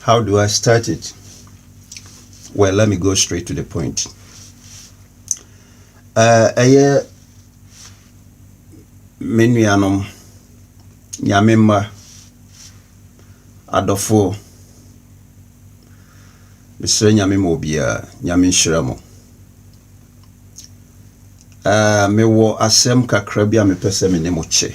How do I start it? Well, let me go straight to the point. Uh, ɛyɛ me nuanom nyame mma adɔfoɔ mesrɛ nyame ma obiara nyame nhyira mo uh, mewɔ asɛm kakra bi a mepɛ sɛ me ne mo kyɛ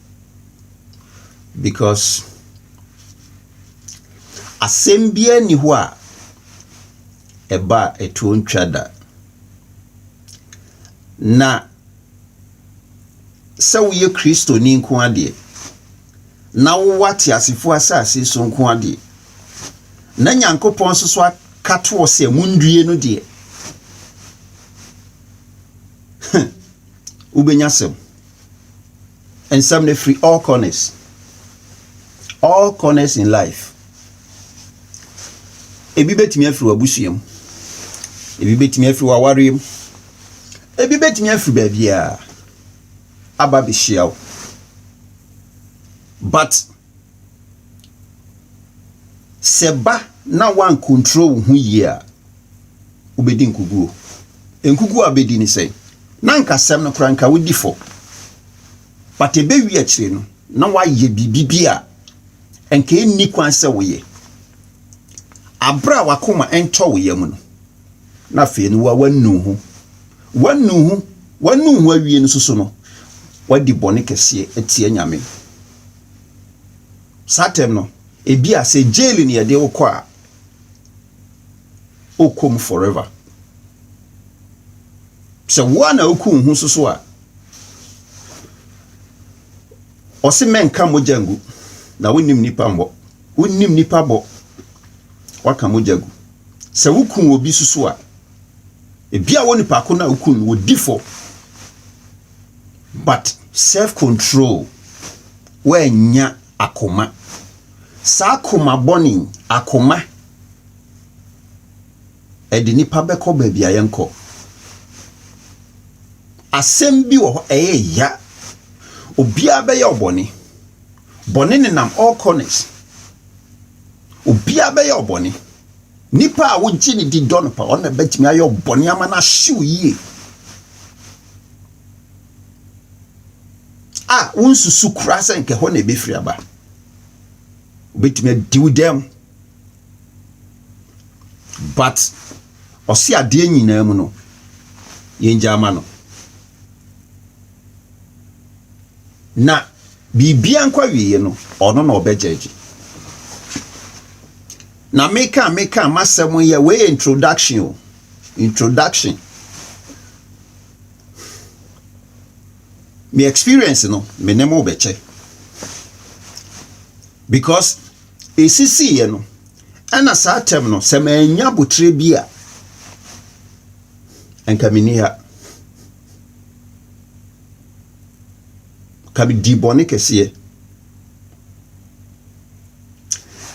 Because asɛm biara nni hɔ a ɛba a ɛtoɔ ntwa da. Na sɛ woyɛ Kristoni nko ara deɛ, na wowɔ ateasefoɔ asase so nko ara deɛ, na Nyankopɔn nso so aka toɔ sɛ monnue no deɛ, huh, wobɛnya asɛm. nsɛm no firi all corners all corners in life ebi bɛtumi afiri w'abusua mu ebi bɛtumi afiri w'awareɛ mu ebi bɛtumi afiri baabiara aba bɛhyia wo but Sɛ ba na woankontrol wo ho yie a, wobɛdi nkuguo. Nkuguo a wobɛdi ne sɛn? Na anka asɛm no koraa anka wodi fɔ. But ɛbɛwie akyire no, na woayɛ biribi bi a anka ɛnni kwan sɛ woyɛ. Aberɛ a wakoma ntɔ wo yam no, na afei no woanu wo ho. Woanu wo ho, woanu wo ho awie no nso so no, woadi bɔne kɛseɛ atia Nyame. Saa tɛm no, ebi a sɛ jail ne yɛde wokɔ a, wokɔ mu forever. Sɛ wo a na woku wo ho soso a, ɔse mɛnka mogya ngu na wonim nipa mmɔ wonim nipa bɔ waka mogya gu sɛ woku obi soso a ebia wo nipa ko na woku no wɔ di fɔ But self control woannya akoma saa koma bɔne yi akoma ɛde nipa bɛkɔ baabi a yɛnkɔ asɛm bi wɔ hɔ ɛyɛ ya obiara bɛyɛ ɔbɔne bɔne nenam all corners obiara bɛyɛ ɔbɔne nipa a wogye ne di dɔ no pa ɔno na bɛtumi ayɛ ɔbɔne ama no ahyew yie. a wonsusu koraa sɛ nka ɛhɔ na ebefiri aba. Obetumi adi wo dɛm. But ɔse adeɛ nyinaa mu no, yɛngya ama no. Na biribia nkɔ awieɛ no, ɔno na ɔbɛgyɛgye. Na meka meka m'asɛm yɛ wei yɛ introduction o. Introduction. Me experience no, me ne mo bɛkyɛ. Because ɛsisiiɛ no, ɛna saa tɛm no, sɛ mannya abotire bi a, nka menni ha. Ka di bɔne kɛseɛ.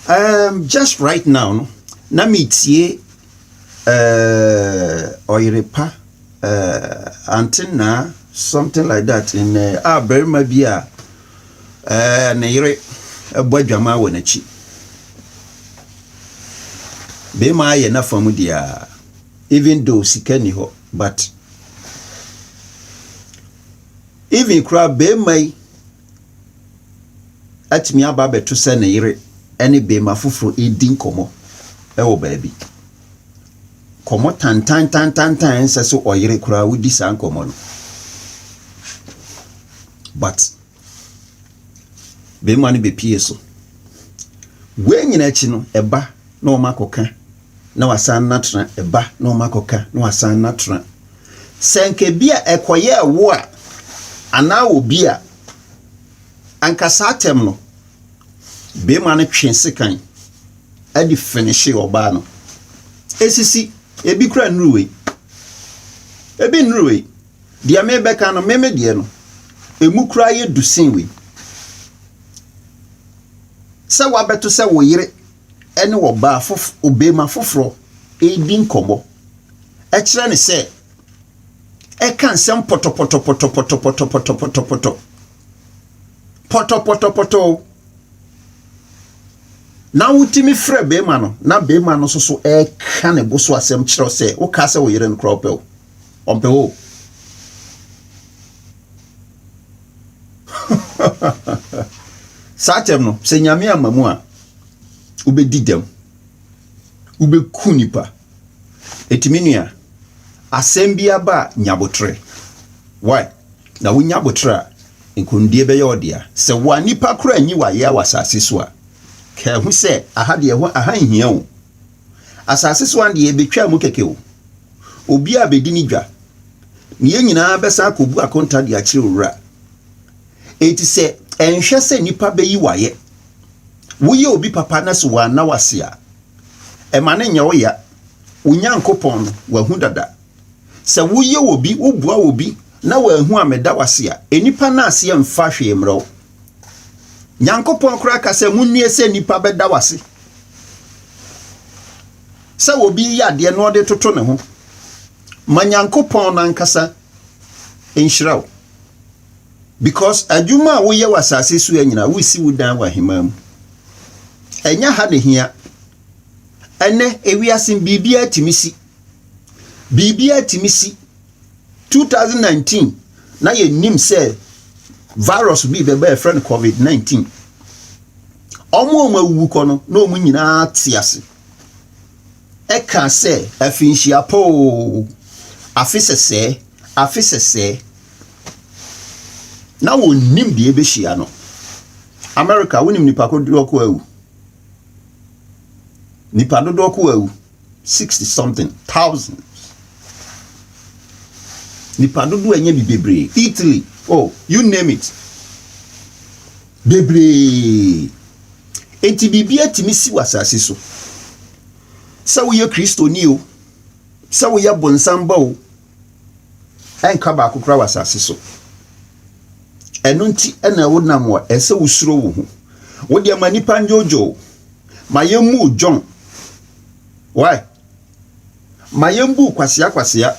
Um, just right now no, na metie eh, ɔyere pa eh, ante naa something like that in eh, a barima bi a eh, ne yere bɔ adwamaa wɔ n'akyi barima ayɛ n'afa mu deɛ even though sika ni hɔ but even koraa barima yi atumi aba abɛto sɛ ne yere ne beema foforo redi nkɔmmɔ wɔ baabi. Nkɔmmɔ tantantantantan a ɛnsɛ sɛ ɔyere koraa odi saa nkɔmmɔ no. But beema no bepue so. Wei nyinaa akyi no, ɛba na wɔakɔka. na wasan atena, ɛba na wɔn akɔka na wasan atena. Sɛ nka ebi a ɛkɔyɛɛ wo a anaa obi a, anka saa atɛm no, barima no twe sekan de finihye ɔbaa no. Esisi, ebi kura nnuru wei. Ebi nnuru wei. Deɛ mebɛka no, meme deɛ no, emu kura yɛ du sen wei. Sɛ wabɛto sɛ wo yere ne ɔbaa fof ɔbarima foforɔ redi nkɔmmɔ. Ɛkyerɛ ne sɛ ɛka nsɛm pɔtɔpɔtɔpɔtɔpɔtɔpɔtɔpɔtɔpɔtɔ. Pɔtɔpɔtɔpɔtɔ o. Na wotumi frɛ barima no na barima no nso so ɛreka ne bo so asɛm kyerɛ wo sɛ wokaa sɛ wo yere no koraa ɔpɛ wo. Ɔmpɛ wo o. Saa tɛm no, sɛ Nyame amma mu a, wobɛdi dɛm, wobɛku nnipa. Enti me nua, asɛm bi aba a nya aboterɛ. Why? Na wonya aboterɛ a, nkonimdie bɛyɛ wo dea. Sɛ wo a nnipa koraa nyi wo ayea wɔ asase so a, ka ɛho sɛ, aha deɛ ɛho, aha nhia o. Asase so ha deɛ ɛbɛtwaa mu kɛkɛ o. Obiara bɛdi ne dwa. Na yɛn nyinaa bɛsan akɔbu akonta de akyerɛ Owura. Enti sɛ ɛnhwɛ sɛ nnipa bɛyi wo ayɛ, Woyɛ obi papa na sɛ wanna wo ase a, ɛma no nyɛ wo ya. Wo Nyankopɔn no, wahu dada. Sɛ woyɛ obi, woboa obi na wanhu ammɛda wo ase a, nnipa no ase mfa hwee mmrɛ wo. Nyankopɔn koraa ka sɛ, Monnue sɛ nnipa bɛda wo ase. Sɛ obi reyɛ adeɛ na ɔde toto ne ho, ma Nyankopɔn no ankasa nhyira wo. Because adwuma a woyɛ wɔ asase so nyinaa, woresi wo dan wɔ ahemman mu. Ɛnyɛ ha na ehia. Ɛnɛ, ewiase biribiara tumi si. Biribiara tumi si. 2019, na yɛnim sɛ virus bi bɛba a yɛfrɛ no COVID-19. Wɔn a wɔawuwu kɔ no, na wɔn nyinaa te ase. kaa sɛ, Afinhyia pa oo, afe sɛsɛɛ, afe sɛsɛɛ. Na wɔnnim deɛ ɛbɛhyia no. Amerika, wonim nipa dodoɔ ko awu? Nipa dodoɔ ko awu, 60 something thousand. Nipa dodoɔ ɛnyɛ bi bebree. Italy, oh, you name it. Bebree. Enti biribi atumi si wɔ asase so. Sɛ woyɛ Kristoni o, sɛ woyɛ bonsam ba o, ɛnka baako koraa wɔ asase so. Ɛno nti na wonam wɔ ɛsɛ wosuro wo ho. Wodeɛ ma nnipa ndwoodwoo, ma yɛmmu wo dwon. Why? Ma yɛmbu kwasea kwasea.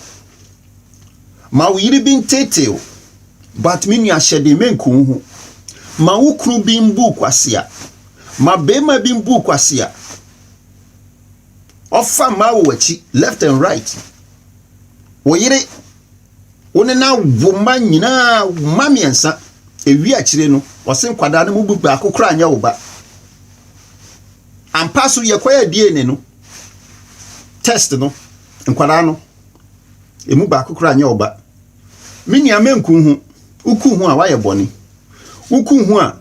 Ma wo yere bi nteetee wo, but me nua hyɛ den mɛnku wo ho. Ma wo kunu bi mbu kwasea. Ma barima bi mbu kwasea. Ɔfa mmaa wɔ w'akyi left and right. Wo yere, wo ne na wo mma nyinaa mma mmiɛnsa. Ewie akyire no, ɔse nkwadaa no mu baako koraa nyɛ wo ba. Ampa so yɛkɔyɛ DNA no. test no nkwadaa no ɛmu baako koraa nyɛ ɔba me nua mɛnku ho woku ho a woayɛ bɔne woku ho a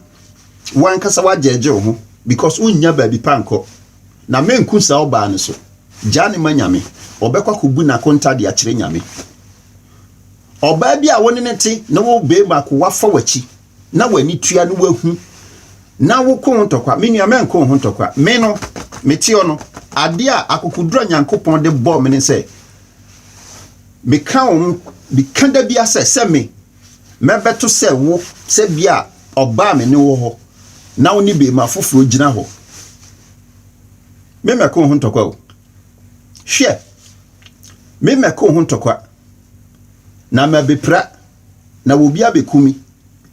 wankasa wagyɛgye wo ho because wonnya baabi pa nkɔ na mɛnku saa ɔbaa no so gyaa ne ma nyame ɔbɛkɔ akɔbu n'akonta de akyerɛ nyame ɔbaa bi a wo ne ne te ne wo bɛɛma ko wafa w'akyi na w'ani tua no wahu na woko ho ntɔkwa. Me nua, mɛnko ho ntɔkwa. Me no, meteɔ no, adeɛ a akokoduro a Nyankopɔn de bɔɔ me ne sɛ, meka wo ho, meka da bia sɛ, sɛ me, mɛbɛto sɛ wo, sɛ bia ɔbaa me ne wo hɔ, na wo ne beema foforɔ gyina hɔ. Me mɛko ho ntɔkwa o. Hwɛ, me mɛko ho ntɔkwa, na mabɛpira. na obi abɛku me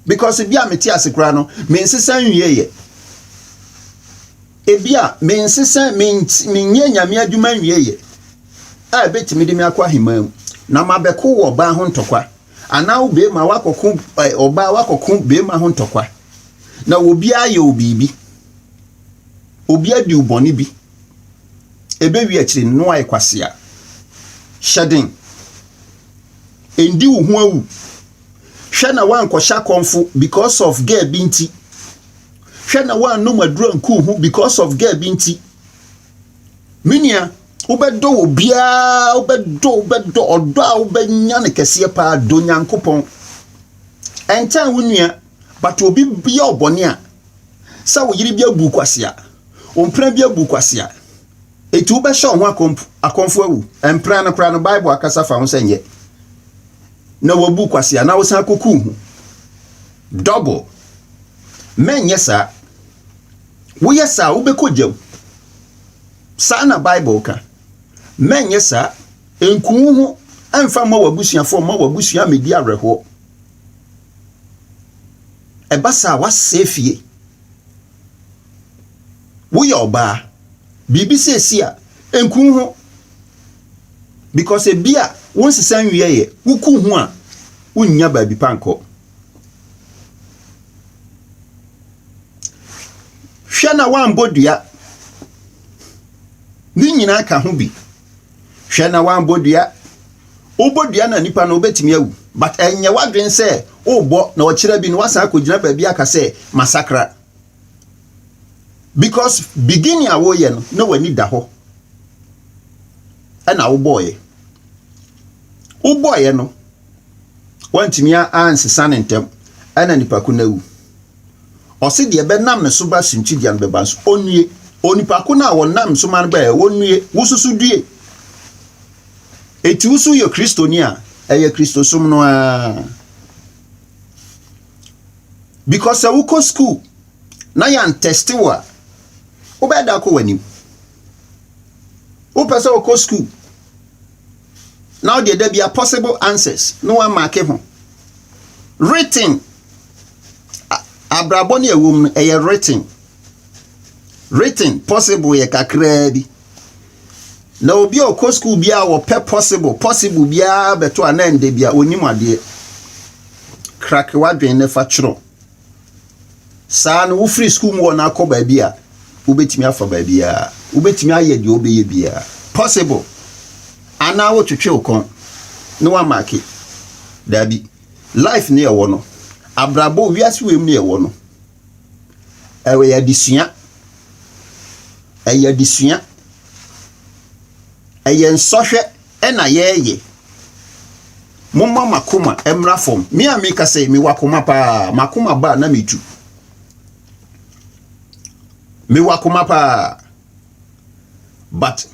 because bi a mete ase koraa no mensesa nwieeɛ ebi a mensesa menyɛ nyame adwuma nwieeɛ a ɛbɛtumi de me akɔ ahemmaa mu na mabɛko wɔ ɔbaa ho ntɔkwa anaa wo beema wakɔko ɔbaa wakɔko beema ho ntɔkwa na obiara yɛ obiibi obiara diw bɔne bi ɛbɛwi akyire no ayɛ kwasea hyɛ den Ɛndi wo ho awu. Hwɛ na woankɔhyɛ akɔmfo because of girl bi nti. Hwɛ na woannom aduru anku wo ho because of girl bi nti. Me nua, wobɛdɔ wɔ biara, wobɛdɔ, wobɛdɔ, ɔdɔ a wobɛnya no kɛseɛ paa, dɔ Nyankopɔn. Ɛntan wo nua, but obi yɛ ɔbɔne a, sɛ wo yere bi abu kwasea, wo mpena bi abu kwasea, Enti wobɛhyɛ wo ho akɔmp akɔmfo awu. Mpena no koraa no, Bible akasa fa ho sɛ nyɛ na woabu wo kwasea na wosan akɔku wo ho. Double. Mɛnyɛ saa. Woyɛ saa a, wobɛkɔ gya mu. Saa na Bible ka. Mɛnyɛ saa. Nku wo ho mfa mma w'abusuafoɔ, mma w'abusua mmɛdi awerɛhoɔ. Ɛba saa a, woasɛe fie. woyɛ ɔbaa biribi seesie a nku wo ho because ebi a wo nsesa nwie yɛ woku ho a wonnya baabi pa nkɔ hwɛ na woambɔ dua ne nyinaa ka ho bi hwɛ na woambɔ dua wobɔ dua na nipa no wobɛtumi awu but ɛnyɛ w'adwene sɛ wobɔ na ɔkyerɛ bi na woasan akɔgyina baabi aka sɛ masakra because beginning a woyɛ no na w'ani da hɔ ɛna wobɔɔyɛ wobɔɔyɛ no wantumi ansesa ne ntɛm ɛna nipa ko no awu ɔse deɛ bɛnam ne so ba suntidua no bɛba nso ɔnnue onipa ko no a wɔnam so ma no bɛɛ wɔnnue wosusu due ɛti wo so yɛ kristoni a ɛyɛ kristosom no a because sɛ wokɔ school na yɛantɛste wo a wobɛyɛ da akɔ w'anim wopɛ sɛ wokɔ school na wode da bia possible answers na woamake ho written abrabɔ ne ɛwom no ɛyɛ written written possible yɛ kakraa bi Na obi a ɔkɔ sukuu biara wɔpɛ possible possible biara bɛto a na ɛnda bia ɔnim adeɛ. Krake w'adwene ne fa twerɛ. Saa no wofiri sukuu mu hɔ no akɔ baabi a wobɛtumi afa baabiara. Wobɛtumi ayɛ deɛ wobɛyɛ biara. Possible. Anaa wotwetwe wo kɔn ne wamake. Daabi. Life ne ɛwɔ no. Abrabɔ wiase wei mu ne ɛwɔ no. Ɛyɛ adesua, ɛyɛ adesua, ɛyɛ nsɔhwɛ ɛna yɛreyɛ. Momma mo akoma mmra fam. Me a meka sɛ mewɔ akoma paa, m'akoma ba a na metu. Mewɔ akoma paa but.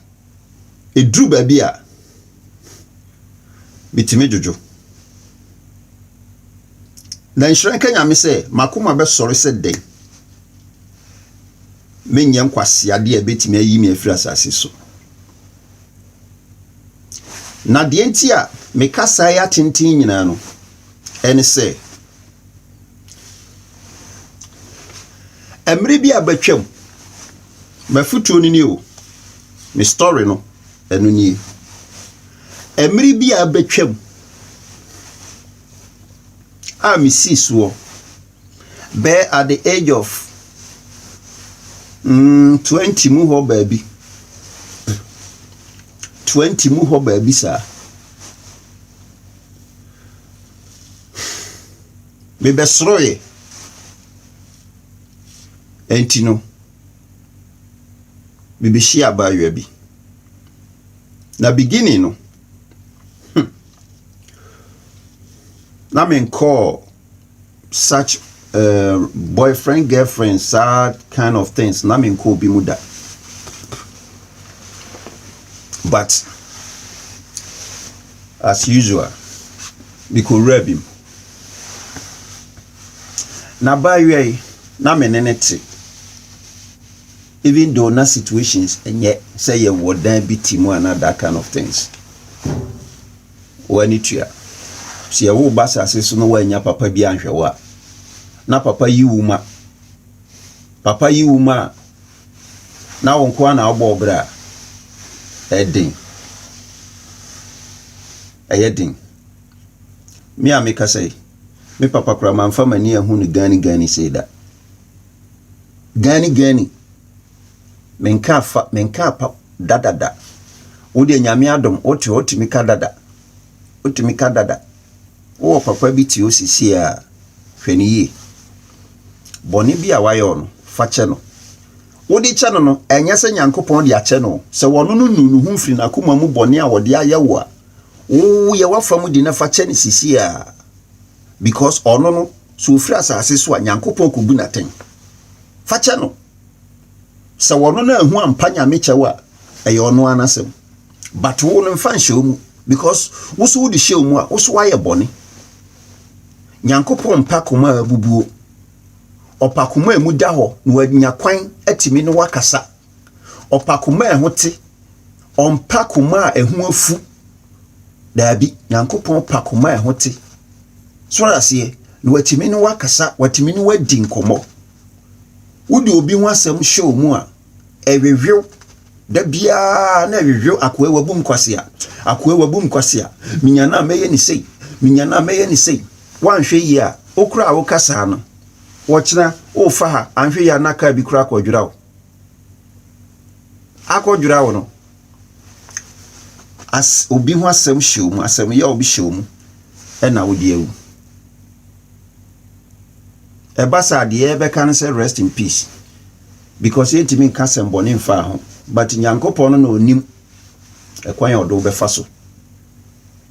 Ɛduru baabi a, metumi dwodwo. Na nhyira nka Nyame sɛ m'akoma bɛsɔre sɛ dɛn menyɛ nkwaseadeɛ a ɛbɛtumi ayi me afiri asase so. Na deɛ nti a meka saa yi atenten nyinaa no, ɛne sɛ mmerɛ bi a abɛtwam M'afotuo no nie o, me story no ɛno nie. Ɛmere bi a abɛtwam a mesii soɔ bɛɛ at the age of mm, 20 mu hɔ baabi. 20 mu hɔ baabi saa. Mebɛsoroeɛ. Enti no, mibehyiaa abaayewa bi. Na beginning no, hmm, na menkɔɔ such uh, boyfriend, girlfriend, saa kind of things, na menkɔ obi mu da. But, as usual, mekɔwura bi mu. Na baayewa yi na me ne no te even though na situations ɛnyɛ sɛ yɛwɔ dan bi ti mu ana that kind of things wɔani tua sɛ yɛwo ba sase so no wɔanya papa bi anhwɛ wo a na papa yi wo ma papa yi wo ma a na wo nkoa na wobɔ ɔbrɛ a ɛden ɛyɛ den me a mekasa yi Me papa koraa mamfa m'ani anhu no ganigani sei da. Ganigani! Menkaa fa, menkaa pa da da da. Wo deɛ Nyame adom, wote hɔ tumi ka da da. Wotumi ka da da. Wowɔ papa bi te hɔ seesei a, hwɛ no yie. Bɔne bi a wayɛ wo no, fa kyɛ no. Wode kyɛ no no, ɛnyɛ sɛ Nyankopɔn de akyɛ no o, sɛ ɔno no nuu ne ho mfiri n'akoma mu bɔne a ɔde ayɛ wo a, Woo yɛ w'afa mu di na fa kyɛ no sisi a because ɔno no sɛ ofiri asase so a Nyankopɔn kobu no atɛn. Fa kyɛ no. Sɛ ɔno no anhu ampa Nyame kyɛw a ɛyɛ ɔno ara n'asɛm. But wo no mfa nhyɛ wo mu because wo so wode hyɛ wo mu a wo so wayɛ bɔne. Nyankopɔn mpa koma a abubuo. Ɔpa koma a emu da hɔ na wanya kwan atumi ne wo akasa Ɔpa koma a ɛho te, ɔmpa koma a ɛho afu. Daabi, Nyankopɔn pa koma a ɛho te. So ɔte aseɛ? Na watumi ne wo akasa, watumi ne wo adi nkɔmmɔ. Wode obi ho asɛm hyɛ ɔmu a, ɛhwehwew. Da biara na ɛhwehwew, akoa wabu me kwasea, akoa wabu me kwasea, menya no a mɛyɛ no sei, menya no a mɛyɛ no sei. Woanhwɛ yie a, wo koraa a woka saa no, ɔkyena worefa ha, anhwɛ yie a na kaa bi koraa akɔdwera wo. akɔdwera wo no, as obi ho asɛm hyɛ wo mu, asɛm yɛ obi hyɛ wo mu, ɛna wode awu. Ɛba saa deɛ ɛbɛka no sɛ rest in peace because yɛntumi nka asɛm bɔne mfaa ho but Nyankopɔn no na ɔnim ɛkwan a ɔde wobɛfa so.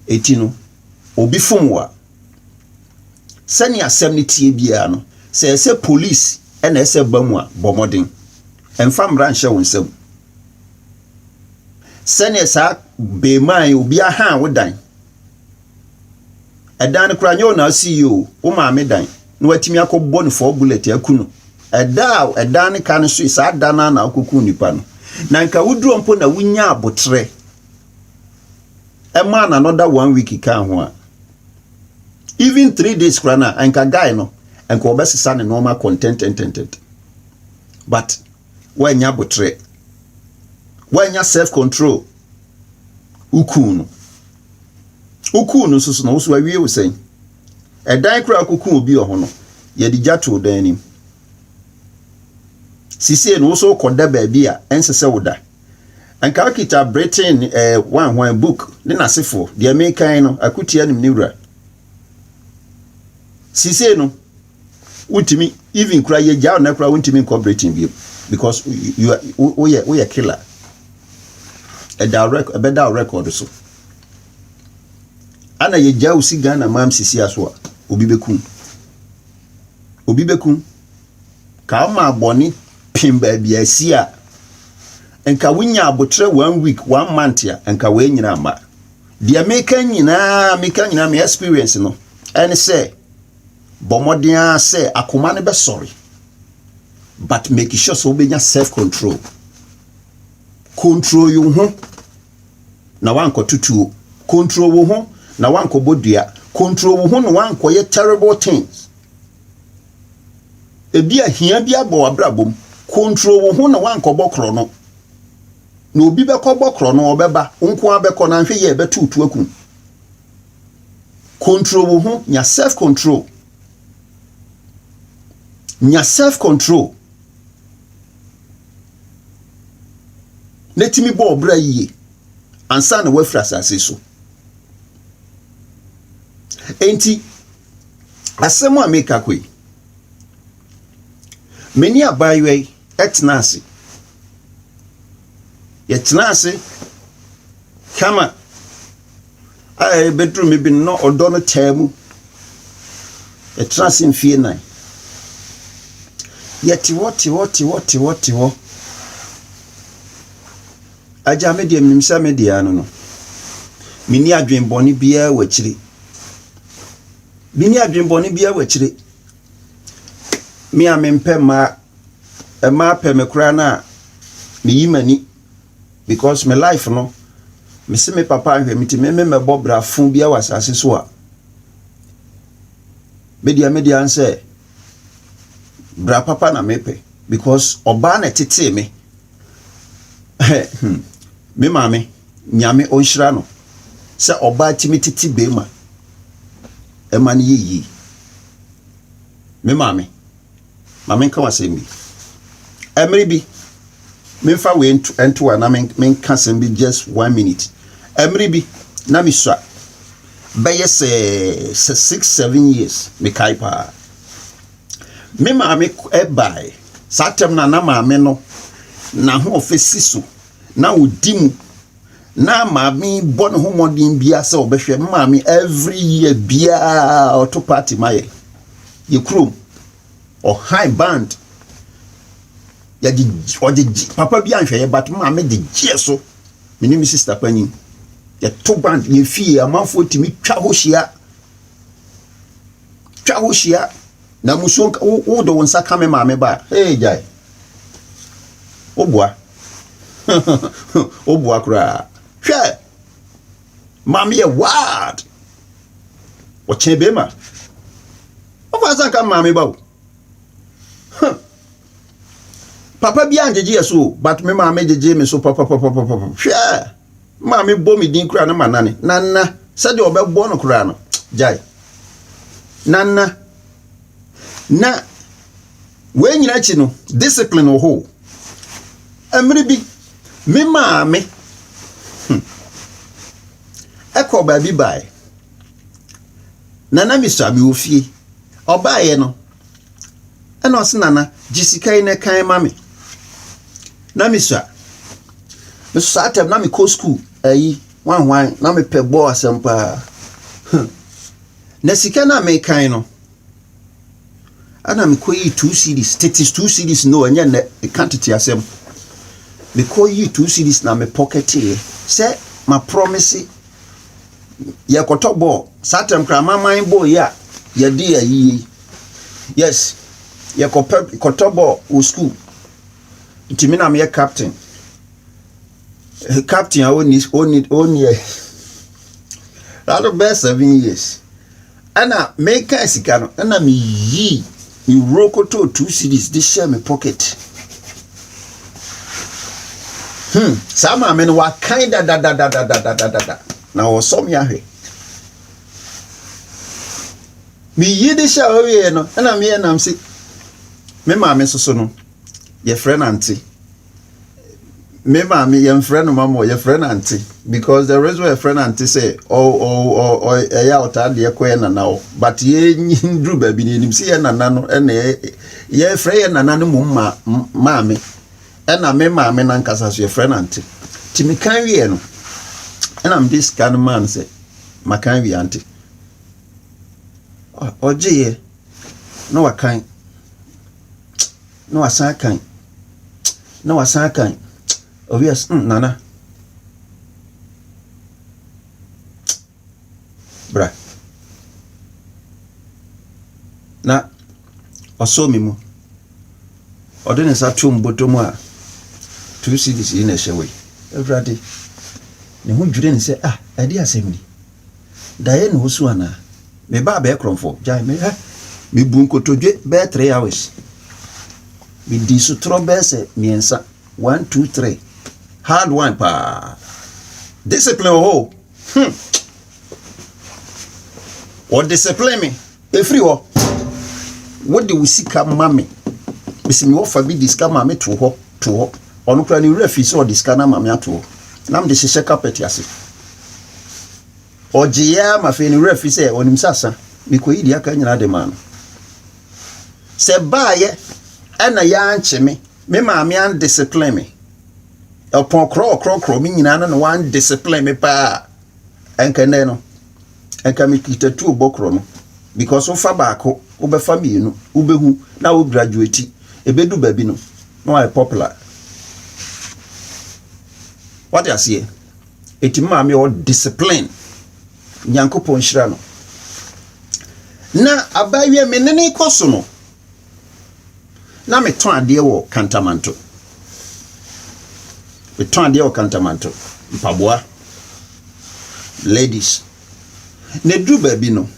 Eti no, obi fom wo a, sɛnea asɛm no teɛ biara no, sɛ ɛyɛ sɛ polisi na ɛsɛ ba mu a, bɔ mmɔden. Mfa mmara nhyɛ wo nsam. Sɛnea saa beemaa yi, obi ahan wo dan. Ɛdan no koraa nyɛ wo na ɔsi yie o, wo maame dan na watumi akɔbɔ no four bullet aku no. Ɛda a ɛdan no ka no so, saa da no ara na wokɔkuu nipa no. Na nka woduro mpo na wonya aboterɛ ɛma an another one week kaa ho a even three days koraa na nka guy no nka ɔbɛsesa ne nneɛma kɔntɛntɛntɛntɛnt but wanya abotrɛ wanya self control wokuu no wokuu no nso so na woso awie wo sɛn ɛdan koraa wokokuu obi wɔ ho no yɛde gya too dan anim sisei no woso wokɔda baabi a ɛnsɛ sɛ woda Anka okita Britain eh, Hwan Hwan book ne n'asefoɔ. Deɛ mekan no, akutia nim ne wura. Sisei no, wontumi, even kura yɛgya ɔna kura wontumi nkɔ Britain bio because woyɛ woyɛ killer. Ɛda rɛk ɛbɛda wo record so. Ana yɛgya wo si Ghana mam sisi aso a, obi bɛkum. Obi bɛkum. Ka ɔma abɔne pem baabi a asi a, nka wonya aboterɛ one week, one month a, nka woanyina amma. Deɛ meka nyinaa, meka nyinaa, me experience no, ɛne sɛ, bɔ mmɔden ara sɛ akoma no bɛsɔre. But make sure sɛ wobɛnya self control. Control wo ho na woankɔto tuo. Control wo ho na woankɔbɔ dua. Control wo ho na woankɔyɛ terrible things. Ebia hia bi abɔ w'abrabɔ mu. Control wo ho na woankɔbɔ korɔno. Na obi bɛkɔbɔ korɔno, ɔbɛba. Wo nko ara bɛkɔ, na nhwɛ yie a, ɛbɛto wo tu aku wo. Control wo ho, nya self control. Nya self control. Na tumi bɔ ɔbra yie ansa na woafiri asase so. Enti Asɛm a meka kɔ yi, me ne abaayewa yi tenaa ase. Yɛtenaa ase kama a ɛbɛduru me bi no na ɔdɔ no taa mu. Yɛtenaa ase mfeɛ nnan. Yɛte hɔ te hɔ te hɔ te hɔ te hɔ. Agya, me deɛ menim sɛ me deɛ ano no, menni adwene bɔne biara wɔ akyire. Menni adwene bɔne biara wɔ akyire. Me a mempɛ mmaa, mmaa pɛ me koraa no a, meyi m'ani because me life no, mese me papa nhwɛ me nti me me mmɛbɔ brafo biara wɔ asase so a, me deɛ me deɛ ano sɛ bra papa na mepɛ because ɔbaa na ɛtetee me. hmm, me maame, nyame ɔnhyira no sɛ ɔbaa tumi tete bɛrima ɛma no yɛ yie. Me maame, maame nka wasɛm bi. Ɛmere bi, memfa wei nto a na menka sɛm bi just one minute. Ɛmere bi, na mesua bɛyɛ sɛ sɛ six seven years mekae paa. Me maame k eh bae. Saa tam no a, na maame no n'ahoɔfɛ si so. Na ɔdi mu. Na maame bɔ ne ho mmɔden biara sɛ ɔbɛhwɛ. Me maame every year biara ɔto party ma yɛ. Yɛ kurom. Ɔhan band. Yɛde ɔde papa bi anhwɛ yɛ but maame de gyeɛ so. Me ne me sista panyin. Yɛto band yɛ fie amanfoɔ tumi twa hɔ hyia. twa ho hyia na musuo nka wo wo de wo nsa ka me maame ba a hey gyae woboa woboa koraa hwɛ maame yɛ wild ɔkyɛn bɛrima wofa nsa nka me maame ba o papa bi angyegye yɛ so but me maame gyegye me so papapapapapa hwɛ Maame bɔ me din koraa na manane. Nana, sɛdeɛ ɔbɛbɔ no koraa no, gyae. Nana, na wei nyina akyi no, discipline wɔ hɔ o. Mmere bi, me maame hmm, ɛkɔ baabi bae. Nana mesua, mewɔ fie. Ɔbaeɛ no, Ɛna ɔse nana gye sika yi na kan ma me na me sua me so saa tɛm na me kɔ school ayi wan wan na me pɛ bɔɔ asɛm paa hmm. na sika na me kan no ɛna me kɔ yi two cities tete two cities no ɛnyɛ nɛ ɛka tete asɛm me kɔ yi two cities na me pɔkɛteɛ sɛ ma promise yɛkɔtɔ bɔɔl. Saa tam koraa amaman bɔɔl yi a yɛde yɛ ayi yi, yes, yɛkɔpɛ kɔtɔ bɔɔl wɔ sukuu. Nti me na meyɛ captain. Captain a ɔnni ɔnni ɔnni ɛ. That bɛyɛ seven years. Ɛna mekaa sika no ɛna me yii me wuro kɔtɔɔ two cedis de hyɛɛ me pocket. Hmm, saa maame no wakan dadadadadadadada na ɔsɔ me ahwɛ. Me yi de hyɛ ɔwieɛ no ɛna me yɛ nam se me maame soso no yɛfrɛ no ante me maame yɛmfrɛ no mama yɛfrɛ no ante because the reason yɛfrɛ no ante sɛ ɛyɛ a ɔtaa deɛ kɔ yɛ nana hɔ but yɛduru baabi no yɛnim sɛ yɛ nana no ɛna yɛfrɛ yɛ nana no mmom ma maame ɛna me maame no ankasa so yɛfrɛ no ante nti meka wieɛ no ɛna mede sika no maa no sɛ maka wie ante ɔgyeeɛ na wakan na wasan akan na wasan akan oh yes mm, nana bra na ɔsɔ me mu ɔde ne nsa to mbɔtɔ mu a two cds yi na ɛhyɛ wei awurade ne ho dwiri ne sɛ ah ɛde asɛm ni Daeɛ na wosu anaa? Me ba abɛɛ korɔmfo, gyae me hɛ. Mebu nkotodwe bɛɛ three hours. Medi sotorɔ bɛɛ sɛ mmiɛnsa, one, two, three. Hard one paa. Discipline wɔ hɔ o. Hmm. Wɔdiscipline me. Ɛfiri hɔ, wode wo sika ma me. Mese me wɔfa bi de sika ma me too hɔ, too hɔ. Ɔno koraa ne wura fii sɛ ɔde sika no ama me ato hɔ. Na mede hyehyɛ kapɛt ase. Ɔgyeeɛ ara ma afei ne wura firi sɛ ɔnim sɛ asa. Mekɔyi deɛ aka nyinaa de maa no. Sɛ baayɛ ɛna yɛankye me, me maame andiscipline me. Ɔpɔn korɔ ɔkorɔkorɔ me nyinaa no na wandiscipline me paa. Ɛnkɛndɛ no. nka me kita tuo bɔ korɔ no because wofa baako wobɛfa mmienu wobɛhu na wo graduate ɛbɛdu baabi no na wayɛ popular wate aseɛ ɛti maame ɔ discipline nyankopɔn nhyira no na abaawia me ne ne kɔ so no na metɔn adeɛ wɔ Kantamanto. Metɔn adeɛ wɔ Kantamanto, mpaboa, ladies. Na ɛduru baabi no,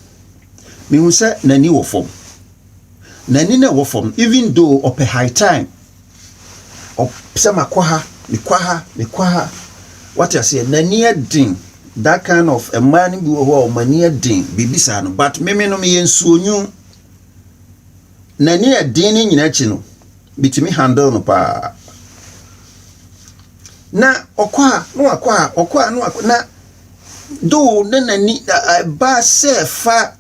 mehu sɛ n'ani wɔ fam. N'ani na ɛwɔ fam, even though ɔpɛ high time. Sɛ makɔ ha, mekɔ ha, mekɔ ha. Wate aseɛ, n'ani yɛ den. That kind of mmaa no bi wɔ hɔ a wɔn ani yɛ den, biribi saa no. But meme no meyɛ nsuonwu. N'ani yɛ den no nyinaa akyi no, mitumi handle no paa. Na ɔkɔ a na wakɔ a ɔkɔ a na wakɔ na though na n'ani ɛba sɛ ɛfa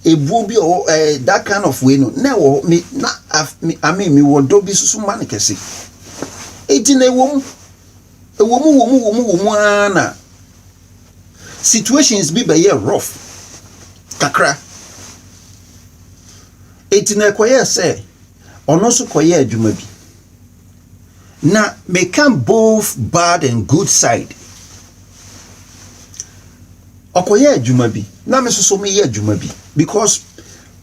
ebuo bi a ɔwɔ ɛɛ that kind of way no na ɛwɔ hɔ me na me I mean mewɔ dɔ bi soso ma no kɛse. Eti na ɛwɔ mu ɛwɔ mu wɔ mu wɔ mu wɔ mu ara na. situations bi bɛyɛ rough kakra eti na ɛkɔyɛ sɛ ɔno nso kɔyɛ adwuma bi na meka both bad and good side ɔkɔyɛ adwuma bi na me nso so meyɛ adwuma bi because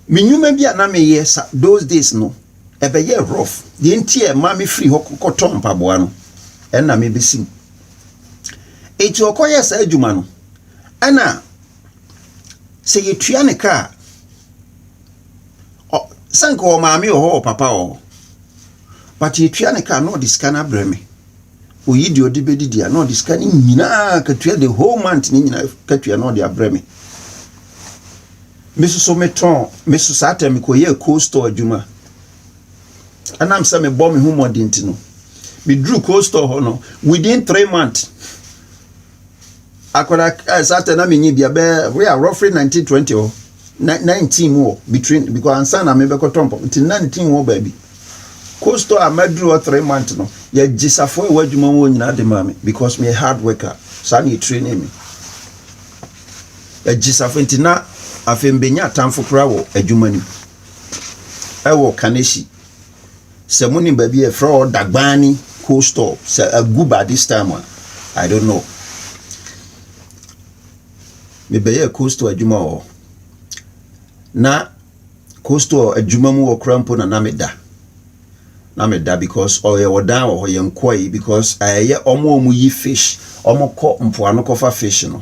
me nnwuma bi a na meyɛ sa those days no ɛbɛyɛ rough deɛ nti a ɛma me firi hɔ kɔtɔ mpaboa no ɛna mebɛsi mu. Enti ɔkɔyɛɛ saa adwuma no. Ɛna sɛ yɛtua ne ka a, ɔ sɛ anka ɔwɔ maame wɔ hɔ ɔwɔ papa wɔ hɔ, but yɛtua ne ka a na ɔde sika no abrɛ me. Ɔyi deɛ ɔde bɛdidi a na ɔde sika no nyinaa katua the whole month no nyinaa katua na ɔde abrɛ me. Me nso so metɔn, me nso saa tɛm mekɔyɛɛ cold store adwuma. Ɛnam sɛ mebɔ me ho mmɔden nti no, meduru cold store hɔ no within three months. Akwadaa eh, satan na menyi bia bɛɛ wei a roughly nineteen twenty hɔ nineteen mu hɔ between because ansa na mebɛkɔtɔ mpɔm nti nineteen mu hɔ baabi. Cold store a maduru hɔ three months no yɛgye safoa ɛwɔ adwuma mu nyinaa de maa me because meyɛ hard worker saa na yɛ training me. Yɛgye safoa nti na afei mbɛnya atamfo koraa wɔ adwuma no mu. ɛwɔ Kaneshie. Sɛ mo nim baabi a yɛfrɛ hɔ Dagbani cold store sɛ agu by this time a I don't know. Mebɛyɛɛ cold store adwuma wɔ hɔ. Na cold store adwuma mu wɔ kora mpo na na meda. Na meda because ɔyɛ wɔ dan wɔ hɔ yɛn kɔe because ɛyɛ wɔn a wɔyi fish wɔn kɔ mpoano kɔfa fish no.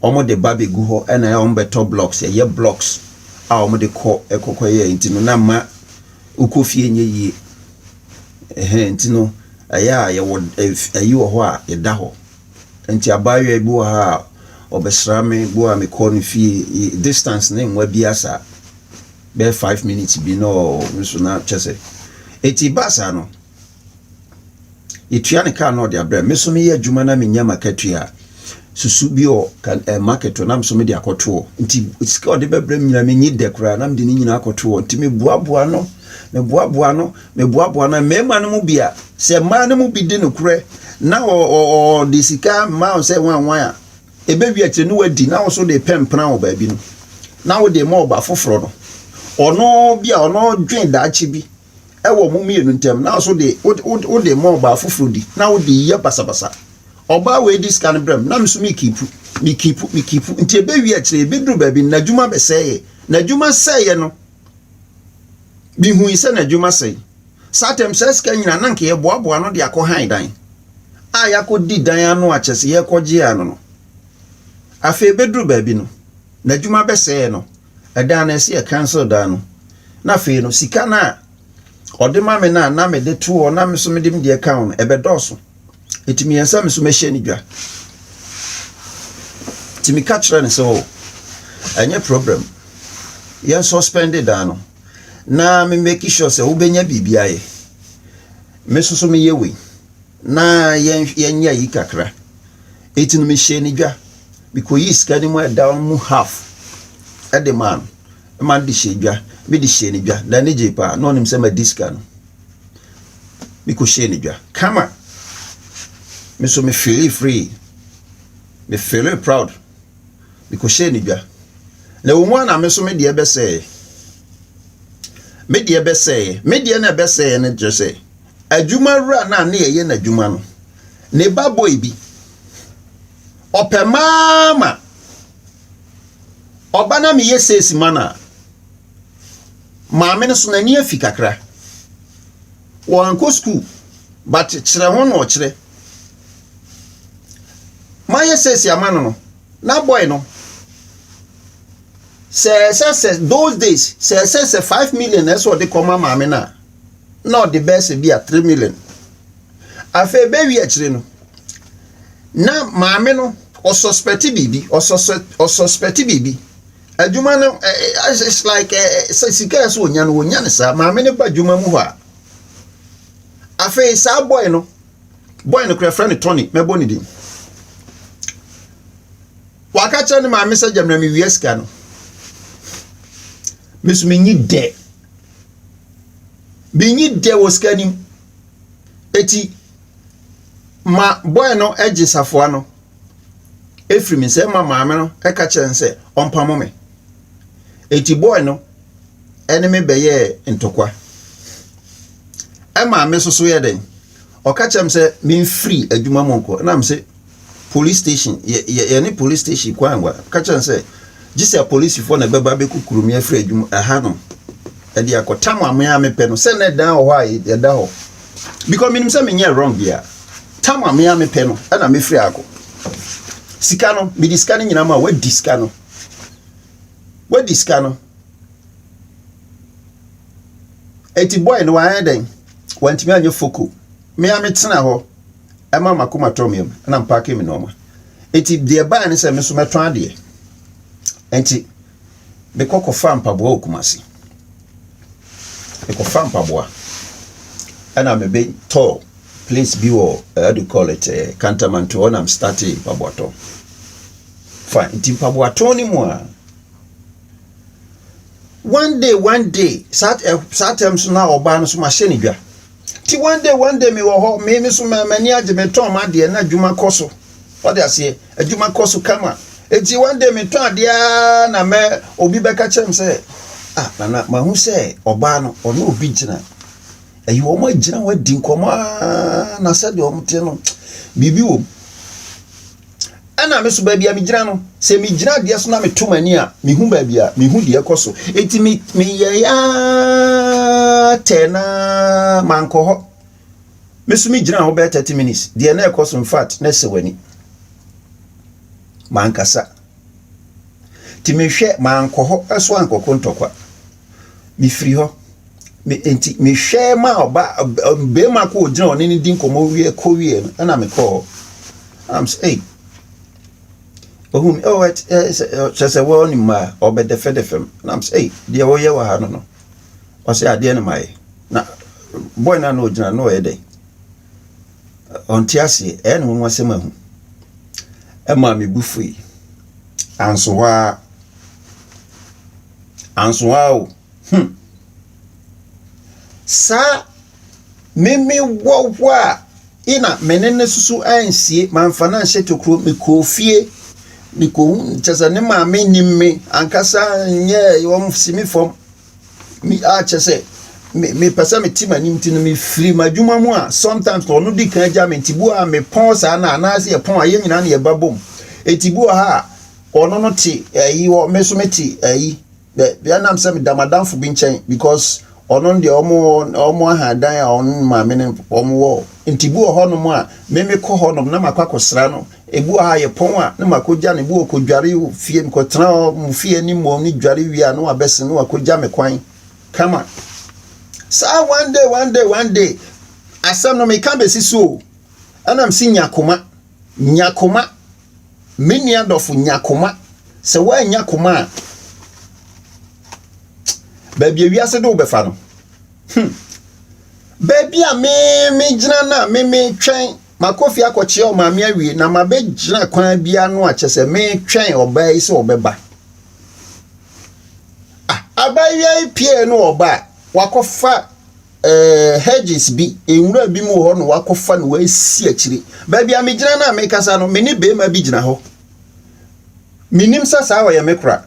wɔn de ba bɛgu hɔ na ɛyɛ a wɔn bɛtɔ blocks ɛyɛ blocks a wɔn de kɔ ɛkɔkɔ yɛ nti no na mma wokɔ fie nyɛ yie ɛhɛn nti no ɛyɛ a yɛwɔ ɛyi wɔ hɔ a yɛda hɔ nti abaayewa bi wɔ ha a ɔbɛsra me bo a mekɔ no fie distance ne nwa bi asa bɛyɛ five minutes bi na ɔno nso na kyɛ sɛ eti baasa no. Yetua no ka na ɔde abrɛ. Me nso meyɛ adwuma na menya m'akatua a, susu bi wɔ ka ɛɛ market hɔ na me nso mede akɔto hɔ. Nti sika a ɔde bɛbrɛ me nyinaa menyi dɛ koraa na mede ne nyinaa akɔto hɔ. Nti meboaboa no, meboaboa no, meboaboa no. Mmarima no mu bi a, sɛ mmaa no mu bi di nokorɛ na ɔ ɔ ɔde sika ma wo sɛ wanwan a, ɛbɛwie akyire no wadi na wo nso wode repɛmpena wɔ baabi no, na wode rema ɔbaa foforɔ no. Ɔno bi a, ɔno dwen daakye bi. wɔ mo mmienu ntam na so de wode ma ɔbaa foforɔ di na wode yɛ basabasa ɔbaa wei di sika no brɛ m na me so mekipu mekipu mekipu nti ɛbɛwie akyire ɛbɛduru baabi no n'adwuma bɛsɛeɛ n'adwuma sɛeɛ no mehui sɛ n'adwuma sɛe saa tɛm saa sika nyina na nka yɛboaboa no de akɔ han dan a yɛakɔdi dan ano akyɛ sɛ yɛkɔgye ano no afei ɛbɛduru baabi no n'adwuma bɛsɛeɛ no dan no ɛsɛ yɛ cancel dan no na afei no sika no a ɔde ma me no a na mede to hɔ na me nso mede me deɛ ka ho no ɛbɛdɔɔso nti meyɛ sɛ me nso mɛhyɛ no dwa nti meka kyerɛ no sɛ o ɛnyɛ problem yɛn suspend dan no na me make sure sɛ wobɛnya biribi ayɛ me nso so meyɛ wei na yɛnhw yɛnyɛ ayi kakra. Enti no mehyɛɛ no dwa. Mekɔyii sika no mu a ɛda hɔ no mu half de maa no. Ɛma no de hyɛɛ dwa. Mede hyɛɛ no dwa. N'ani gyee paa. Na ɔnim sɛ madi sika no. Mekɔhyɛɛ no dwa kama. Me nso me feelee free. Me feelee proud. Mekɔhyɛɛ no dwa. Na ɛwɔ mu a na me nso me deɛ bɛsɛeɛ. Me deɛ bɛsɛeɛ. Me deɛ na ɛbɛsɛeɛ no kyerɛ sɛ Adwumawura no a na yɛyɛ no adwuma no, ne ba boy bi, ɔpɛ maa ma ɔba na meyɛ seesi ma no a, maame no so n'ani afi kakra. Wɔankɔ sukuu, but kyerɛ ho na ɔkyerɛ. Mayɛ seesi ama no no, na boy no, sɛ ɛsɛ sɛ those days, sɛ ɛsɛ sɛ five million na ɛsɛ ɔde kɔma maame no a, na ɔde bɛyɛ sɛ bi a three million afei bɛwie akyire no na maame no ɔsɔspɛte biribi ɔsɔspɛte biribi adwuma no it's like sɛ sika yɛ sɛ ɔnya no ɔnya no saa maame no ba adwuma mu hɔ a afei saa bɔe no bɔe no kora frɛ no tɔne mɛbɔ ne din waka kyerɛ ne maame sɛ gyamena mewie sika no meso menyi dɛ menyi dɛ wɔ sika nim eti ma bɔɛ no gye safoa no efiri me nsam ma maame no ɛka kyerɛ no sɛ ɔmpamo me eti bɔɛ no ɛne me bɛyɛɛ ntɔkwa ɛma me soso yɛ dɛn ɔka kyerɛ me sɛ memfiri adwuma mu nkɔ ɛna me se Police station, yɛ, yɛ, yɛne police station kɔ angua. Ka kyerɛ no sɛ, gye sɛ polisifoɔ na ɛbɛba abɛkukuru me afiri adwuma ɛha no ɛde akɔtam amea a mepɛ no sɛ na ɛdan wɔ hɔ a yɛda hɔ because menim sɛ menyɛ wrong bia tam amea a mepɛ no ɛna mefiri akɔ sika no mede sika no nyinaa ma wadi sika no wadi sika no ɛti boy no wayɛ dɛn wantumi anyɛ foko mea metena hɔ ɛma m'akoma tɔɔ me yam na mpaakee me nnoɔma. Enti deɛ ɛbaeɛ ne sɛ me nso mɛtɔn adeɛ. Enti mekɔ kɔfaa mpaboa wɔ Kumasi. Mekɔfaa mpaboa ɛna mebɛtɔɔ place bi wɔ eh, how do you call it eh, Kantamanto hɔ na mestartee mpaboatɔn. Fine, nti mpaboatɔn no mu a one day one day saa eh, saa term so na ɔbaa no so mahyɛ ne dwa. nti one day one day mewɔ hɔ me me so m'ani agye metɔn m'adeɛ na adwuma kɔ so ɔde aseɛ adwuma kɔ so kama nti one day metɔn adeɛ ara na mɛ obi bɛka kyerɛ m sɛ ah nana mahu sɛ ɔbaa no ɔne obi gyina ɛyi wɔn agyina wɔn adi nkɔmɔ aa na sɛdeɛ wɔn teɛ no biribi wɔm. Ɛna me so baabi a megyina no, sɛ megyina adeɛ so na meto m'ani a, mehu baabi a mehu deɛ ɛkɔ so. Enti me meyɛe ara tɛɛ na mankɔ hɔ. Me so megyina hɔ bɛyɛ thirty minutes. Deɛ na ɛkɔ so in fact na ɛsɛ w'ani. Mankasa. Nti mehwɛ mankɔ hɔ so ankɔko ntɔkwa. Mefiri hɔ. Me enti mehwɛ ma ɔba barima ko ɔgyina ɔne no di nkɔmmɔ wie kɔ wie no ɛna mekɔɔ. Am sɛ ei ohun mi oh ɛt ɛ sɛ kyɛ sɛ wɔn ne mmaa ɔbɛdɛfɛdɛfɛ m na m sɛ ei deɛ wɔyɛ wɔ ha no no ɔsɛ adeɛ no mayɛ na bɔy no a na ɔgyina na ɔyɛ dɛn ɔnte aseɛ ɛyɛ ne nwanwa sɛm ahu ɛmaa me bu fui anso hɔ a Ansoaa o, hmm. Saa meme wɔ hɔ a, i na me ne no susu ansie, mamfa no anhyɛ tokuro, mekɔɔ fie, mekɔhu kyɛ sɛ ne maame nim me ankasa nyɛ wɔn si me fam mi a kyɛ sɛ me mepɛ sɛ mete m'anim nti no mefiri m'adwuma mu a sometimes na ɔno di kan agya me nti bu a mepɔn saa na anaasɛ yɛpɔn a yɛn nyinaa na yɛba bom nti bu wɔ ha a ɔno no te ayi hɔ me nso mete ayi bɛ bia nam sɛ meda madamfo bi nkyɛn because ɔno deɛ ɔmo ɔmo ahadan a ɔno maame no ɔmo wɔ nti bi wɔ hɔnom a meme kɔ hɔnom na makɔ akɔsra no ebi wɔ ha yɛ pɔn a na makɔgya no ebi wɔ kɔdware fie mekɔtena hɔ mo fie anim wɔn ne dware wie a na wabɛsen na wakɔgya me kwan kama saa one day one day one day asɛm no meka bɛsi so o ɛnam si nya koma nya koma Me nua dɔfo, nya koma. Sɛ woannya koma a, baabi a wiase de wobɛfa no. Hmm. Baabi a me megyina no a me metwɛn makɔ fie akɔkyea ɔmaame awie na mabɛgyina kwan bi ano a kyɛ sɛ metwɛn ɔbaa yi sɛ ɔbɛba. Ah, abaayewa yi pie no ɔba a wakɔfa ɛɛ, hedges bi, nwura bi mu wɔ hɔ na wakɔfa no wasi akyire. Baabi a megyina no a mekasa no, me ne barima bi gyina hɔ. Menim sɛ saa ɔyɛ me kora.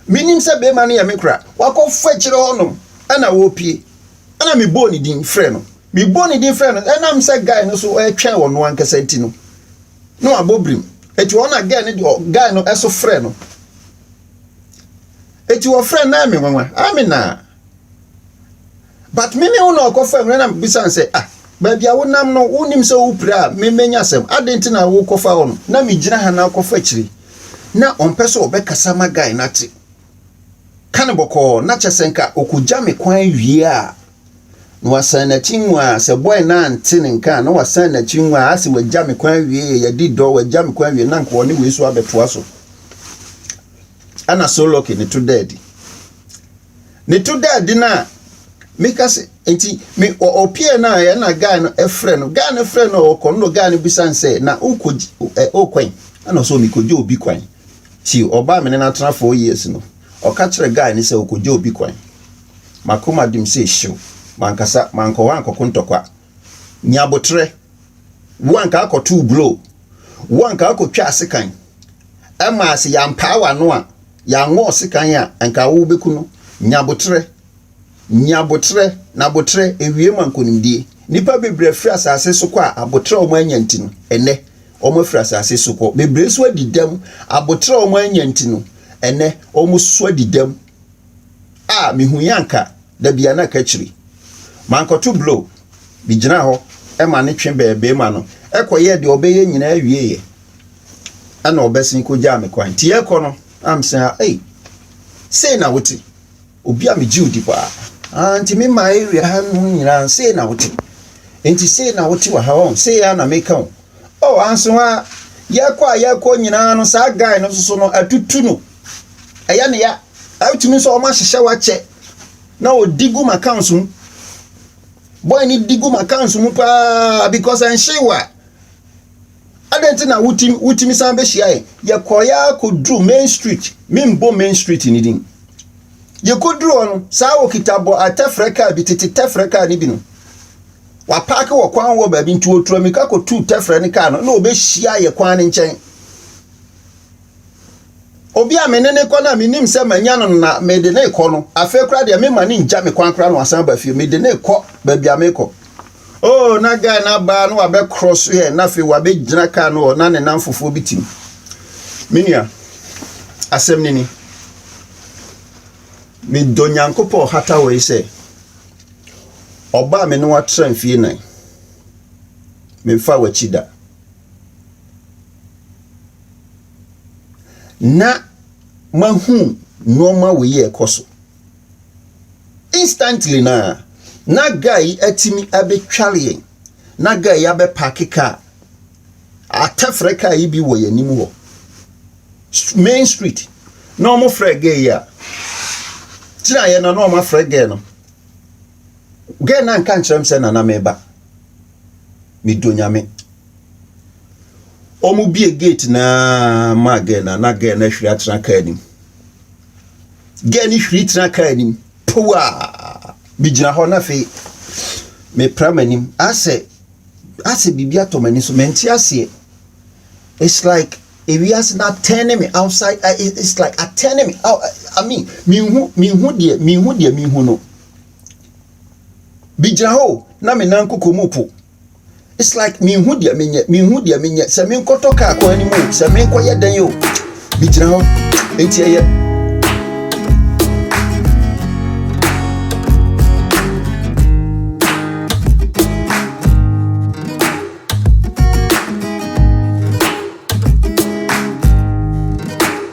Menim sɛ barima no yɛ me kora. Wakɔfa akyire hɔnom ɛna wɔrepie. Ɛna mebɔɔ ne din frɛ no. Mebɔɔ ne din frɛ no, ɛnam sɛ guy no so ɛretwɛn ɔno ankasa nti no, na wabɔ birim. Ɛti hɔ na guy no, guy no ɛso frɛ no. Eti wɔfrɛɛ no Naame nwanwa, Amina. But me ne wo na ɔkɔfa nwura na bisa no sɛ, ah, baabi a wonam no, wonim sɛ wopira a memmenya asɛm. Adɛn nti na wokɔfa hɔ no? Na megyina ha na wokɔfa akyiri. Na ɔmpɛ sɛ ɔbɛkasa ma guy no ate. Ka no bɔkɔɔ, na kyɛ sɛ nka ɔkɔgya me kwan awie a, na wasan n'akyi nwaa. Sɛ boy no ante ne nka a, na wasan n'akyi nwaa. Ase wagya me kwan awie, yɛadi dɔ, wagya me kwan awie, na nka ɔne wei nso abɛtoa so. ɛna Soloki ne to daa di. Ne to daa di no a, meka se, nti me wɔ ɔpie no a ɛna guy no frɛ no, guy no frɛ no ɔkɔ no guy no bisa no sɛ, na wokɔgye, ɛ, wokwan? Ɛna ɔsɛ obi kɔgye obi kwan. Ti ɔbaa me ne no atena four years no, ɔka kyerɛ guy no sɛ wokɔgye obi kwan. Makoma dem sɛ hyew, mankasa, mankɔ hɔ ankɔko ntɔkwa. Nya aboterɛ. Wo a nka akɔtoo blow. Wo a nka akɔtwaa sekan. Ɛma a sɛ yɛampaa w'ano a, yɛanwɔɔ sekan a, nka wo bɛku no. Nya aboterɛ. Nya aboterɛ, na aboterɛ, ɛwie ma nkonimdie. Nnipa bebree afiri asase so kɔ a aboterɛ a wɔn anya nti no, ɛnnɛ, wɔn afiri asase so kɔ. Bebree nso adi dɛm. Aboterɛ a wɔn anya nti no, ɛnnɛ, wɔn nso adi dɛm. a mihui anka dabi a na ɛka akyiri. Mankɔto blow, migyinaa hɔ ma no twe bɛɛ beema no, ɛkɔyɛɛ deɛ ɔbɛyɛ nyinaa wieeɛ ɛna ɔbɛsen kɔgyaa me kwan. Nti yɛrekɔ no na mese ha, ei, sei na wote? Obi a megye odi paa. Ah, nti me ma area ha nom nyinaa, sei na wote? Nti sei na wote wɔ ha, ɔn, sei a na meka o. Oh, anso ha, yɛrekɔ a yɛrekɔ nyinaa no, saa guy no nso no, atutu no. ɛyɛ ne ya a wotumi nso wɔn ahyehyɛ wo akyɛ na odi gu ma accounts mu boy ne di gu ma accounts mu paa because ɛnhye wo a adɛn nti na wotumi wotumi san bɛhyia yɛ yɛkɔɔ yɛ akɔduru main street membɔ main street ne din yɛkɔduru hɔ no saa wɔkita bɔ atɛfrɛ kaa bi tete tɛfrɛ kaa ne bi no wapaake wɔ kwan wɔ baabi nti wɔtura mmirika kɔtuu tɛfrɛ ne kaa no na wɔbɛhyia yɛ kwan ne nkyɛn obi a me ne ne kɔ no a menim sɛ manya no na mede ne kɔ no afei koraa deɛ mema ne ngya me kwan koraa na wasan ba fie mede ne kɔ baabi a mekɔ o oh, na guy no abaa na wabɛkorɔ so yɛ na afei wabɛgyina kaa no hɔ na ne nam fofoɔ bi tim me nua asɛm no ni medɔ nyankopɔn hata wɔ yi sɛ ɔbaa me ne watra mfie nan memfa w'akyi da na mahu nneɛma wei yɛ ɛkɔ so instantly na na guy yi atumi abɛtware yɛn na guy yi abɛpaake kaa atɛfrɛ kaa yi bi wɔ yɛn anim hɔ main street na wɔn frɛ guy yi a gyina yɛn na na wɔn afrɛ guy no guy na nka nkyerɛ m sɛ nana meba. me dɔ nyame wɔn bie gate naa maa girl na na girl na ahwiri atena kaa anim girl ni hwiri tena kaa anim powaa me gyina hɔ na afei me pra m'anim asɛ asɛ biribi atɔ m'ani so mente aseɛ it's like ewiase na atɛne me outside uh, it's like atɛne me out i mean minhu minhu deɛ minhu deɛ minhu no Megyina hɔ o, na me nan koko mu po. It's like menhu deɛ menyɛ, menhu deɛ menyɛ. Sɛ menkɔtɔ kaa kwan no mu o, sɛ menkɔyɛ dɛn o, megyina hɔ. Enti ɛyɛ.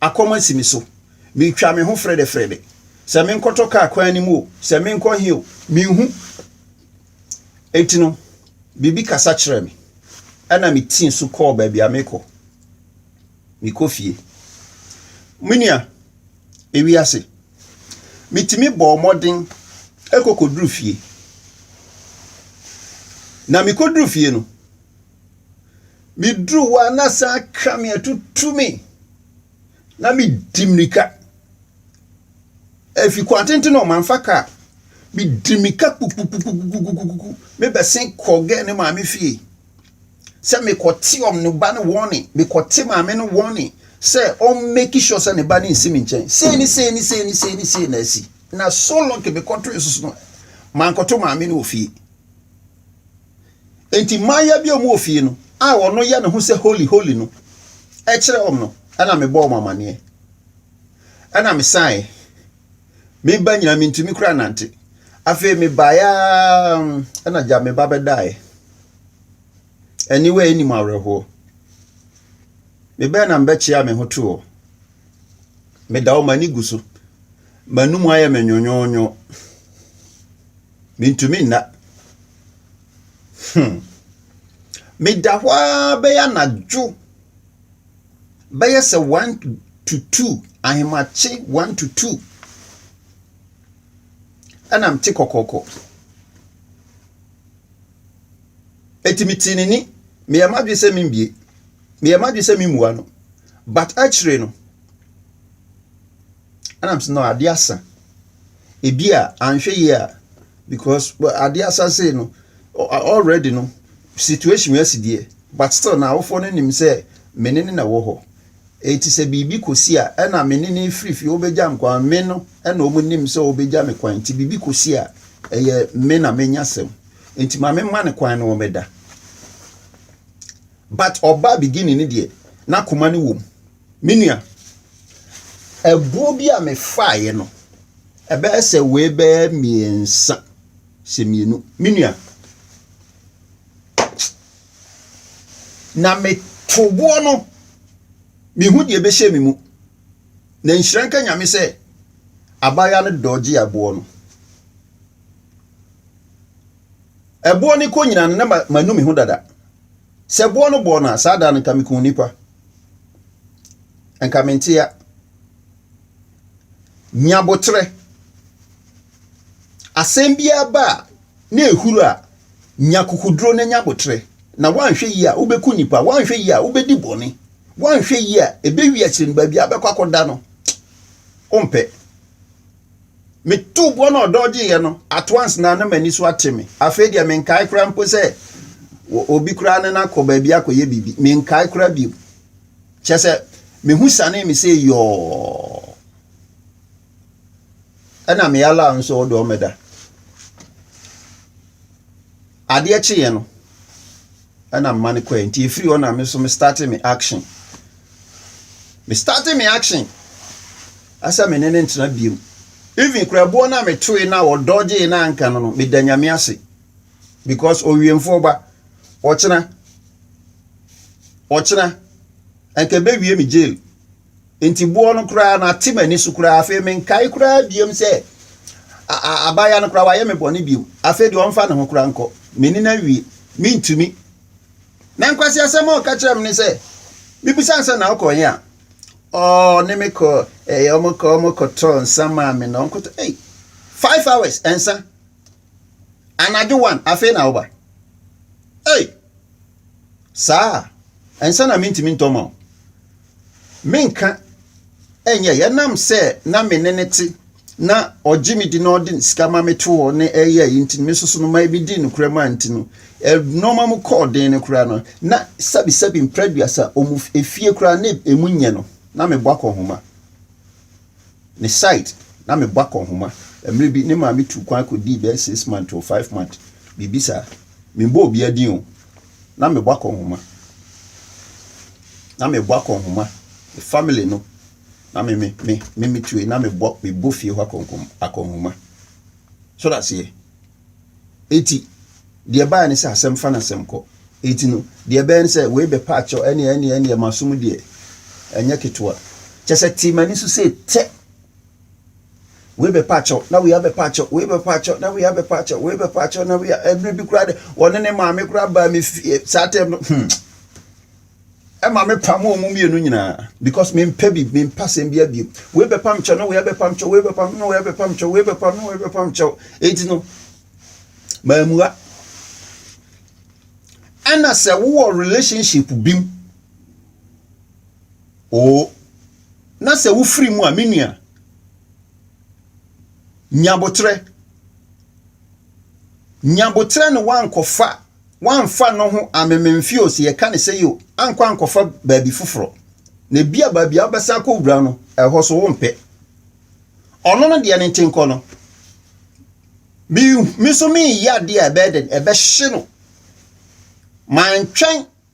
Akɔm asi me so. Mitwa me ho frɛdɛfrɛdɛ. Sɛ menkɔtɔ kaa kwan no mu o, sɛ menkɔ he o, minhu. Enti no, biribi kasa kyerɛɛ me. Ɛnna mitii so kɔɔ baabi a mekɔ. Mekɔ fie. Me nua, ewiase. Mitumi bɔɔ mmɔden kɔ kɔduru fie. Na mikoduru fie no, Meduru hɔ a na saa ka me atutu me na medi mmirika. Efi kwan tenten hɔ mamfa kaa. Medi mmirika kpukpukpukpukpukpukpukpu mebɛsen kɔɔ gɛɛ ne maame fie sɛ mekɔte ɔm ne ba no wɔne mekɔte maame no wɔne sɛ ɔm make sure sɛ ne ba no nsi me nkyɛn. Sei ne sei ne sei ne sei ne sei na asi. Na so lucky mekɔtoe so so no mankɔto maame no wɔ fie. Enti mmayewa bi a wɔwɔ fie no a ɔno yɛ ne ho sɛ holy holy no kyerɛɛ wɔn no na mebɔɔ wɔn amaneɛ. Ɛna mesaeɛ. Me ba nyinaa mentumi koraa nnante. Afei mebaeɛ ara ɛna gya me ba bɛdaeɛ. Aniwa a ɛnim awerɛhoɔ. Mebɛɛ na mebɛkyea me ho too hɔ. Meda hɔ m'ani gu so. M'anum ayɛ me nwonwonwo. Mentumi nna. Hmm. Meda hɔ ara bɛyɛ anadwo bɛyɛ sɛ one to two ahemakye one to two ɛna mete kɔkɔkɔ. Eti metee n'ani meyɛ m'adwene sɛ membie meyɛ m'adwene sɛ memmua no but akyire no Ɛna mesɛ no adeɛ asa. Ebi a anhwɛ yie a because adeɛ asa sei no already no situation wei asi deɛ but still na awofoɔ no nim sɛ me ne no na ɛwɔ hɔ. Eti sɛ biribi kɔsi a ɛna me ne no firi fie wɔbɛgya me kwan me no ɛna wɔn nim sɛ wɔbɛgya me kwan nti biribi kɔsi a ɛyɛ me na menya asɛm nti ma me ma no kwan no wɔbɛda. But ɔbaa beginning no deɛ n'akoma no wɔ mu. Me nua, ɛboɔ bi a mefaaeɛ no, ɛbɛyɛ sɛ wei bɛyɛ mmiɛnsa sɛ mmienu. Me nua, na meto boɔ no, mehu deɛ ɛbɛhyɛ me mu. Na nhyira nka nyame sɛ abaayewa no dɔgye ɛboɔ no. Ɛboɔ no kɔ nyina no na manu me ho dada. Sɛ ɛboɔ no bɔɔ no a, saa da no nka mekuu nnipa. Nka mente ya. Nya boterɛ. Asɛm biara ba a na ɛhuru a, nya kukuduro na nya boterɛ. Na woanhwɛ yie a, wobɛku nnipa. Woanhwɛ yie a, wobɛdi bɔne. Woanhwɛ yie a, ɛbɛwie akyire no baabi a wobɛkɔ akɔda no, wompɛ. Metuu boɔ na ɔdɔ gyeeɛ no, at once na na m'ani so ate me. Afei deɛ menkae koraa mpo sɛ obi koraa ne no akɔ baabi akɔyɛ biribi. Menkae koraa bio. Kyerɛ sɛ, me ho sianee me sei yɔɔ. Ɛna me allow nso ɔdɔ mmɛda. Adeɛ kyeeɛ no ɛna mma no kɔɛ nti ɛfiri hɔ na me nso me starte me action me starte me action asɛ me ne ne ntena biom even kura ɛboɔ no a metoe no a ɔdɔgyee no anka no no meda nyame ase because owiemfoɔ ba ɔkyena ɔkyena ɛnka ɛbɛwie me jail Enti boɔ no koraa no ate m'ani so koraa afei menkae koraa biom sɛ abaayewa no koraa wayɛ me bɔne biom afei deɛ ɔmfa ne ho koraa nkɔ m'ani no awie mentumi na nkwasi asɛm a ɔka kyerɛ me ne sɛ mebisa sɛ na ɔkɔ yɛn a ɔne me kɔ ɛyɛ ɔmo kɔ ɔmo kɔtɔ nsa maa me na ɔmo kɔtɔ ei five hours nsa anadwo one afei na ɔba ei Saa a, nsa na mintumi ntɔ ma wo. Menka ɛnyɛ yɛnam sɛ na me ne no te na ɔgye me di na ɔde sika ma me to hɔ ne ɛyɛ yi nti me nso so no ma ebi di nokorɛ ma nti no nneɛma mu kɔɔ den no koraa no na sɛbisɛbi mprɛduasa ɔmu efie koraa na emu nyɛ no na mebɔ akɔnhoma. me site na mebɔ akɔnhoma. Mmerɛ bi ne maame tuu kwan kɔdii bɛyɛ six month or five month biribi saa. Membɔ obiara din o, na mebɔ akɔnhoma. Na mebɔ akɔnhoma. Me family no na me me me me me tue na mebɔ mebɔ fie hɔ akɔnkɔm akɔnhoma. So aseɛ. Enti, deɛ ɛbaeɛ ne sɛ asɛm fa na asɛm kɔ. Enti no, deɛ ɛbɛyɛ ne sɛ wei bɛpa akyɛw, ɛneɛ ɛneɛ ɛneɛ m'asom deɛ ɛnyɛ ketewa. Kyɛ sɛ tee m'ani so sei tɛ! Wei bɛpa akyɛw, na wei abɛpa akyɛw, wei bɛpa akyɛw, na wei abɛpa akyɛw, wei bɛpa akyɛw, na wei a ɛberɛ bi koraa de, wɔne ne maame koraa baa me fie saa tɛm no, hmm. Ɛma me pam wɔn mu mmienu nyinaa because me mpɛ bi me mpa sɛm bi abiem wei bɛ pam kyɛw na wei abɛ pam kyɛw wei bɛ pam na wei abɛ pam kyɛw wei bɛ pam na wei abɛ pam kyɛw eti no maa mua ɛna sɛ wowɔ relationship bim oo na sɛ wofiri mu a me nua nyabotrɛ nyabotrɛ ne wankɔfa. wamfa no ho amemem fie o, sɛ yɛka ne sɛi o, ankɔ ankɔfa baabi foforɔ. Na ebia baabi a wobɛsan akɔwura no, ɛhɔ so wompɛ. Ɔno no deɛ ne nte nkɔ no. Me, me nso mereyɛ adeɛ a ɛbɛyɛ dɛn? Ɛbɛhye no. Mantwɛn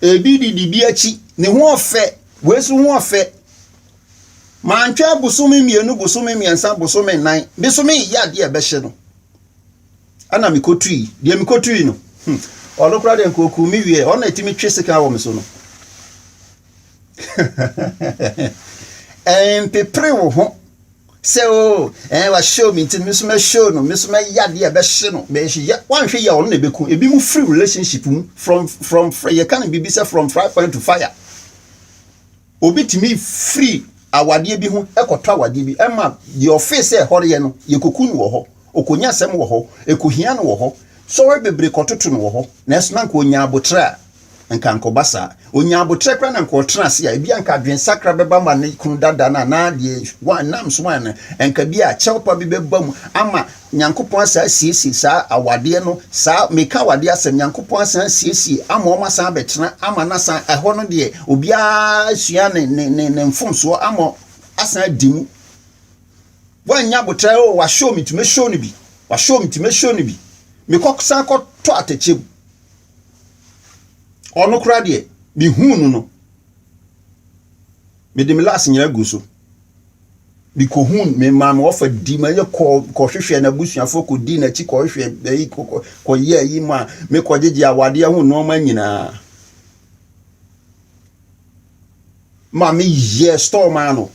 Ebi di de bi akyi. Ne ho ɔfɛ, wei nso ho ɔfɛ. Mantwɛn bosome mmienu, bosome mmiɛnsa, bosome nnan. Me nso mereyɛ adeɛ a ɛbɛhye no. Ɛna mekɔtui. Deɛ mekɔtui no, hmm, ɔno koraa deɛ nka ɔkuu me wie. Ɔno na ɛtumi twe sekan wɔ me so no. Ɛmpepere wo ho. Sɛ oo, ɛɛ wahyew me nti me nso mɛhyew no, me nso mɛyɛ adeɛ a ɛbɛhye no, mɛhyehyɛ, woanhwɛ yie a ɔno na ɛbɛku. Ebi mu firi relationship mu, from, from, yɛka no biribi sɛ from fry pan to fire. Obi tumi firi awadeɛ bi ho kɔtɔ awadeɛ bi, ɛma deɛ ɔfee sɛ ɛhɔreɛ no, yɛkɔku no wɔ hɔ, ɔkɔnya asɛm wɔ hɔ, ɛkɔhia no wɔ hɔ, sɔre bebree kɔtoto no wɔ hɔ, nanso na nka ɔnya aboterɛ a. Anka ankɔba saa. Onyaa aboterɛ koraa na anka ɔtena ase a, ebia anka adwensakra bɛba ma ne kunu dada no anaa deɛ wine, nam so wine no, anka bi a kyɛw pa bi bɛba mu ama Nyankopɔn asan asiesie saa awadeɛ no, saa, meka awadeɛ asɛm, Nyankopɔn asan asiesie ama wɔn asan abɛtena ama no asan, ɛhɔ no deɛ obiara asua ne, ne, ne, ne mfomsoɔ ama asan adi mu. Wannya aboterɛ, oh, wahyɛw me nti mɛhyɛw no bi, wahyɛw me nti mɛhyɛw no bi, mekɔ san kɔtɔ atɛkyɛ mu. Ɔno koraa deɛ, mehuu no no, mede me last nyinaa gu so. Mekɔhuu no, memaa me wɔfa di ma yɛ kɔɔ kɔhwehwɛɛ n'abusuafoɔ kɔdii n'akyi kɔhwehwɛɛ bɛyi kɔkɔ kɔyɛ ayi ma mekɔgyegye awadeɛ ho nneɛma nyinaa. maame yɛɛ store maa no.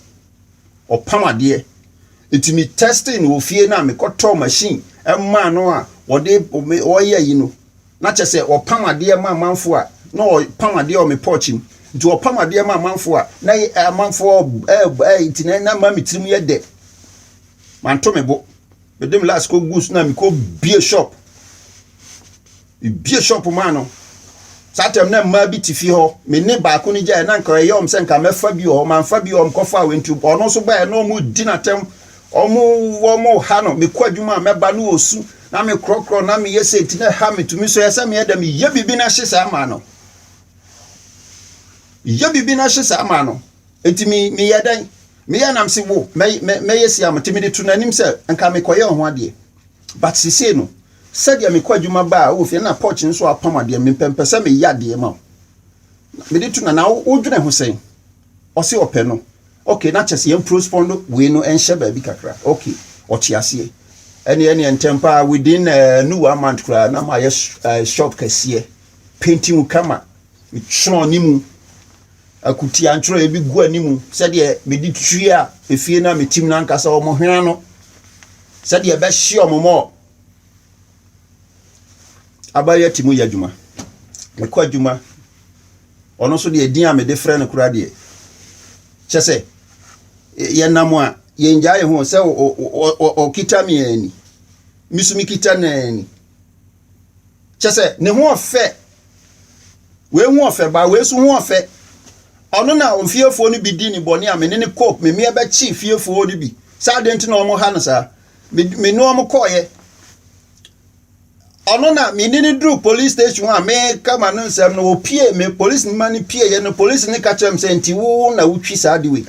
Ɔpam adeɛ. Nti me testing no wɔ fie no a mekɔtɔɔ machine maa no a wɔde wɔyɛ yi no na kyɛ sɛ ɔpam adeɛ ma amanfo a na ɔpam adeɛ wɔ me pɔɔkye mu. Nti ɔpam adeɛ ma amanfo a na amanfo ɛɛ ɛɛ nti na na ma me tirim yɛ dɛ. Manto me bo. mede me last kɔguu so na mekɔbie shop mebie shop maa no saa tam na mmaa bi te fie hɔ me ne baako no gyaeɛ na nka ɛyɛ ɔm sɛ nka mɛfa bi wɔ hɔ mamfa bi wɔ hɔ mekɔfa wɔ nti ɔno nso baeɛ na ɔmudi no atɛm ɔmo wɔmo ha no mekɔ adwuma a mɛba no wɔ su na mekorɔkorɔ na meyɛ sɛ nti na ɛha metumi so yɛ sɛ meyɛ dɛ meyɛ biribi no ahye saa maa no meyɛ biribi no ahye saa maa no Enti me meyɛ dɛn? Meyɛ nam se wo mɛ mɛ mɛyɛ siam nti mede to n'anim sɛ nka mekɔyɛ ɔho adeɛ but sesei no sɛdeɛ mekɔ adwuma ba a wɔ fie na porch nso apam adeɛ mempɛ mpɛ sɛ meyɛ adeɛ ma wo mede to na na wodwene ho sɛn ɔse ɔpɛ no okay na kyɛ sɛ yɛn postpone wei no ɛnhyɛ baabi kakra okay ɔte aseɛ ɛne ɛne ntɛm paa within uh, no one month koraa na mayɛ uh, shop kɛseɛ painting kama metwerɛ ne mu Akutia ntwerɛeɛ bi gu anim sɛdeɛ mede tua efie no a metim no ankasa wɔn hwene ano sɛdeɛ ɛbɛhye wɔn ma aban ati mu yɛ adwuma. Mekɔ adwuma, ɔno nso deɛ din a mede frɛ no koraa deɛ, kyɛ sɛ yɛnam a yɛngyaa yɛn ho sɛ ɔkita me ani, me nso mekita n'ani. kyɛ sɛ ne ho ɔfɛ wei ho ɔfɛ ba wei so ho ɔfɛ ɔno na ofiefoɔ no bi di ne bɔne a me ne ne kɔ me mmea bɛkye fiefoɔ no bi sɛ adeɛ nti na wɔn ha no saa me ne wɔn kɔɔyɛ ɔno na me ne ne duru police station a me kama no nsɛm no opie me police no ma no pie yɛ no police no ka kyerɛ me sɛ nti wo na wotwi saa de wei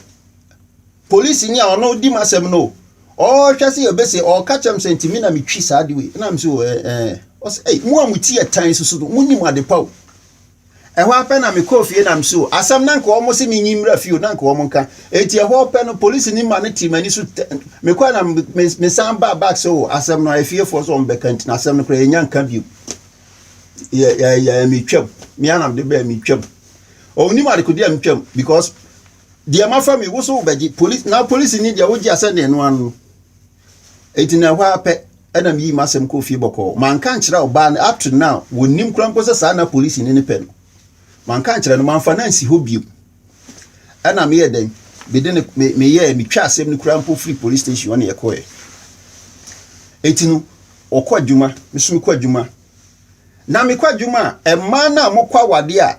Polisinyi a ɔno dzi m'asɛm no, ɔhwɛ se obese, ɔka kyerɛ me sɛ, Ntsi me na metwi saa adze wei? Nna mese, Ɔyɛ, ɛɛ. Ɔse, Ei, mo a mo tsir yɛ tan so so no, munnyim adze pa o! Hɔ ara pɛ na mekɔɔ fie na mese, O, asɛm no a nka wɔse minnyi mbra fie o, na nka wɔnka. Ntsi hɔ ara pɛ no, polisinyi ma no tee m'ani so tɛ, mekɔe na mesan baa back sɛ, O, asɛm no a efiefoɔ se wɔbɛka ntsi no, asɛm no koraa yennya nka bio. Yɛ, yɛ, yɛ, mitwaam. Me ara na mede bae, mitwaam. Ɔnnyim adekode a mitwaam, because. Deɛ mafa mi wo so wobɛgye polisi na polisini deɛ wogye asɛnneɛ no ano no enti na ɛhɔ ara pɛ ɛna meyii m'asɛm kɔɔ fie bɔkɔɔ manka nkyerɛ ɔbaa no up to now wɔnnim koraa mpo sɛ saa na polisini no pɛ no manka nkyerɛ no mamfa no ansi hɔ bio ɛna meyɛ dɛn mede no me meyɛɛ metwa asɛm no koraa mpo firi police station ɔne ɛkɔɛ enti no ɔkɔ adwuma me so mekɔ adwuma na mekɔ adwuma a mmaa no a mokɔ awadeɛ a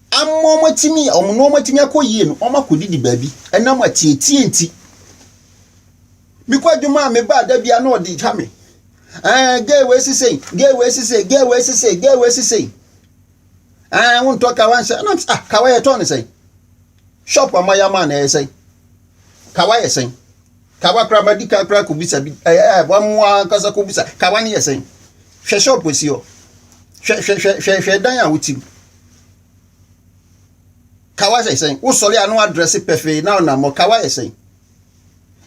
Ama wɔatumi, wɔn nneɛma atumi akɔ yie no, wɔakɔdidi baabi ɛnam atietie nti. Mekɔ adwuma a mebaa da bia na ɔde twa me. Ɛɛ gay wei sisei, gay wei sisei, gay wei sisei, gay wei sisei. Ɛɛ wontɔ kawa nhyɛ ɛnam sɛ ah kawa yɛtɔ ne sɛn. Shop ama yɛ ama na ɛyɛ sɛn. Kawa yɛ sɛn. Kawa koraa madi kan koraa kɔbisa bi ɛɛ wɔamoa ankasa kɔbisa kawa ne yɛ sɛn. Hwɛ shop si hɔ. Hwɛ hwɛ hwɛ hwɛ dan a wotim. kawa sɛ sɛn wosɔre a na wadrɛse pɛfee na ɔnammɔ kawa yɛ sɛn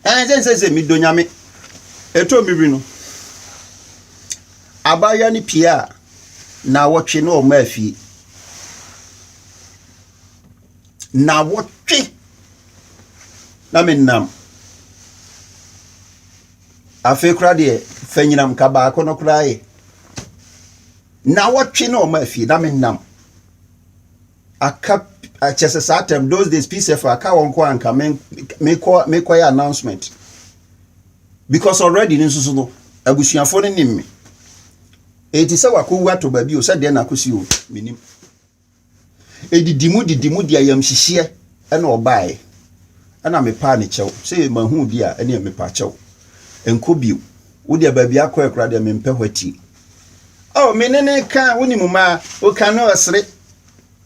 ɛn sɛ nsɛ sɛ medɔ nyame ɛtɔ me wiri no abaayewa no pie a na wɔtwe na ɔma afie na wɔtwe na menam afei koraa deɛ fanyinam ka baako no koraa yɛ Naawɔtwe na ɔma afie na me nam aka kyɛ sɛ saa tɛm those days pcf aka wɔn kɔ anka mekɔ mekɔ yɛ announcement because already ne nso no abusuafoɔ no nim me eti sɛ wakɔwu atɔ baabi o sɛ deɛ na akɔsi o menim. Edidi mu didi mu de ayamhyehyeɛ na ɔbaeɛ. Ɛna mepaa ne kyɛw. Sɛ yɛ mahu wo deɛ a, ɛneɛ mepa kyɛw. Nkɔ bio. Wo deɛ baabi a akɔɛ koraa deɛ mempɛ hwatie. Oh, me ne ne ka, wonim mmaa, woka no ɔsere,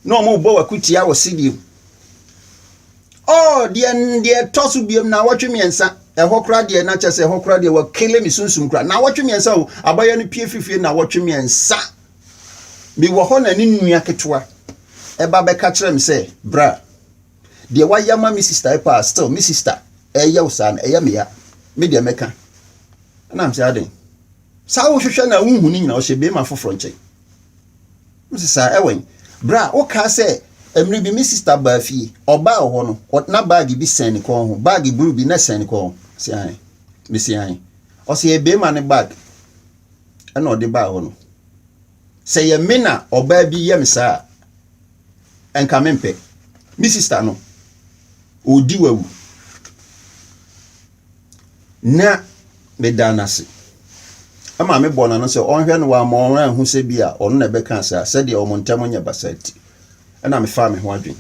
na wɔn rebɔ wakutia wɔ sediem. Oh, deɛ deɛ ɛtɔ so biom na awɔtwe mmiɛnsa, ɛhɔ koraa deɛ na kyɛ sɛ ɛhɔ koraa deɛ wɔkele me sunsum koraa. Na awɔtwe mmiɛnsa o, abayɛ no pie fifie na awɔtwe mmiɛnsa Mewɔ hɔ na ne nua ketewa ba bɛka kyerɛɛ me sɛ, Bra. Deɛ woayɛ ama me sista yi paa, still me sista ɛreyɛ wo saa no, ɛyɛ me ya. Me deɛ mɛka. Ɛna mesɛ, Adɛn? Saa a wohwehwɛ no a wonhu no nyinaa, ɔhyɛ beema foforɔ nkyɛn. Mese, Saa, ɛwɛn? Bra, wokaa sɛ mmerɛ bi me sista baa fie, ɔbaa wɔ hɔ no, na baage bi sɛn ne kɔn ho, baage bruu bi na ɛsɛn ne kɔn ho. Ɔse, Aane. Mese, Aane. Ɔse, Ɛyɛ beema ne baage. ɛna ɔde baa hɔ no sɛ yɛ me na ɔbaa bi yɛ me saa a nka mempɛ me sista no ɔdi wawu na meda no ase ɛma me bɔ n'ano sɛ ɔnhwɛ no wamma ɔno anhu sɛ bi a ɔno na ɛbɛka saa sɛdeɛ ɔmo ntɛm nyɛ basa ti ɛna mefaa me ho adwene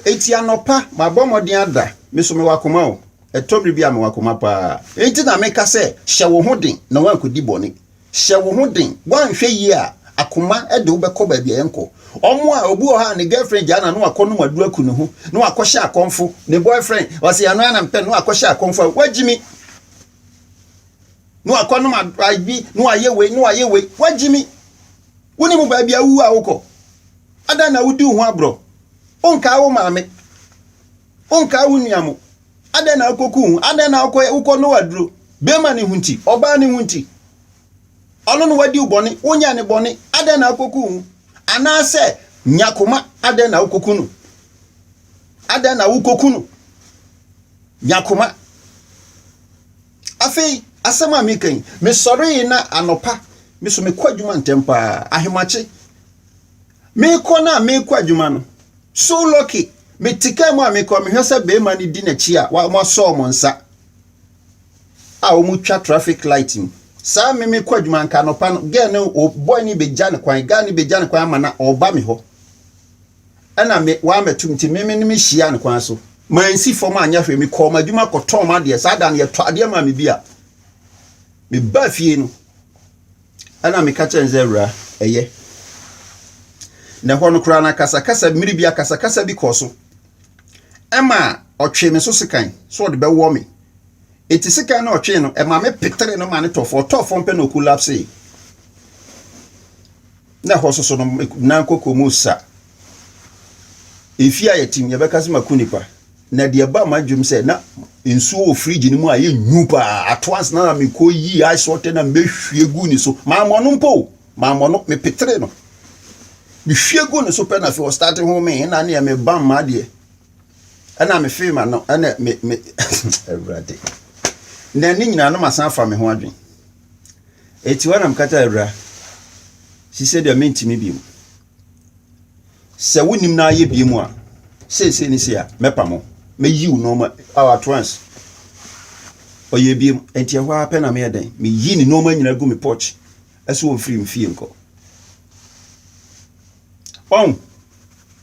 eti anɔpa mabɔ mmɔden ada me so mewɔ akoma o Ɛtɔ bere bi a mewɔ akoma pa ara. Enti na meka sɛ, 'Hyɛ wo ho den na woankodi bɔne. Hyɛ wo ho den. Woanhwɛ yie a, akoma de wo bɛkɔ baabi a ɛnkɔ. Wɔn a, obi wɔ hɔ a ne girlfriend gyaa no a, na wakɔnom aduru aku ne ho, na wakɔhyɛ akɔmfo. Ne boyfriend, ɔse ɛno ara na mepɛ no, na wakɔhyɛ akɔmfo a, wagyimi. Na wakɔnom ayi, na wayɛ wei, na wayɛ wei, wagyimi. Wonim baabi a wowu a wokɔ. Adɛn na wodi wo ho aborɔ? Wonkaa wo maame. Wonkaa wo nua mo. Adɛn na wokɔku wo ho? Adɛn na wokɔyɛ wokɔ Noa aduro? Bɛrima no ho nti, ɔbaa no ho nti. Ɔno na wadi wo bɔne, wonyɛɛ ne bɔne, adɛn na wokɔku wo ho? Anaasɛ nya koma, adɛn na wokɔku no? Adɛn na wokɔku no? Nya koma. Afei, asɛm a meka yi, mesɔree na anɔpa, me so mekɔ adwuma ntɛm paa, ahemakye. Merekɔ no a merekɔ adwuma no, so lucky, mete kaa mu a merekɔ, mehwɛ sɛ barima no di n'akyi a wɔasɔ wɔn nsa a wɔtwa traffic light mu. Saa me mekɔ adwuma nka anɔpa no, girl no, o boy no bɛgya ne kwan, guy no bɛgya ne kwan ama na ɔreba me hɔ. Ɛna me wɔammɛto me nti me me ne me hyia ne kwan so. Mansi fam anyɛ hwee, mekɔɔ m'adwuma kɔtɔɔ m'adeɛ. Saa da no yɛtɔ adeɛ maa me bi a, mebaa fie no, Ɛnna meka kyerɛɛ no sɛ, Awuraa, ɛyɛ. Na ɛhɔ no koraa no akasakasa, mmere bi akasakasa bi kɔɔ so. Ɛma ɔtwee me so sekan sɛ ɔde bɛwɔ me. Enti sekan no a ɔtwee no, ɛma me petere no ma no tɔ fam. Ɔtɔɔ fam pɛ na okolapsee. Na ɛhɔ soso no, me nan kɔkɔɔ mu sa. Mfe a yɛtim, yɛbɛka sɛ maku nipa. Na deɛ ɛbaa m'adwene mu sɛ na nsuo wɔ fridge no mu a ɛyɛ nyu paa at once na na mekɔ yi ice water na mehwie gu ne so mammɔ no mpo o mammɔ no mepetere no mehwie gu ne so pɛ na afei ɔstarte ho me na neɛ mebam ma adeɛ ɛna mefee ma no ɛna me me awurade na ne nyinaa no masan afa me ho adwene ɛti hɔ na mekata awura si sɛ deɛ mentumi bi mu Sɛ wonnim na ayɛ biem a, seesei ne sei a, mɛpamo. Mɛyiw nneɛma a at once. Ɔyɛ biem. Enti ɛhɔ ara pɛ na meyɛ dɛn? Meyi ne nneɛma nyinaa gu me porch so wɔ mfiri mfie nkɔ. Ɔn,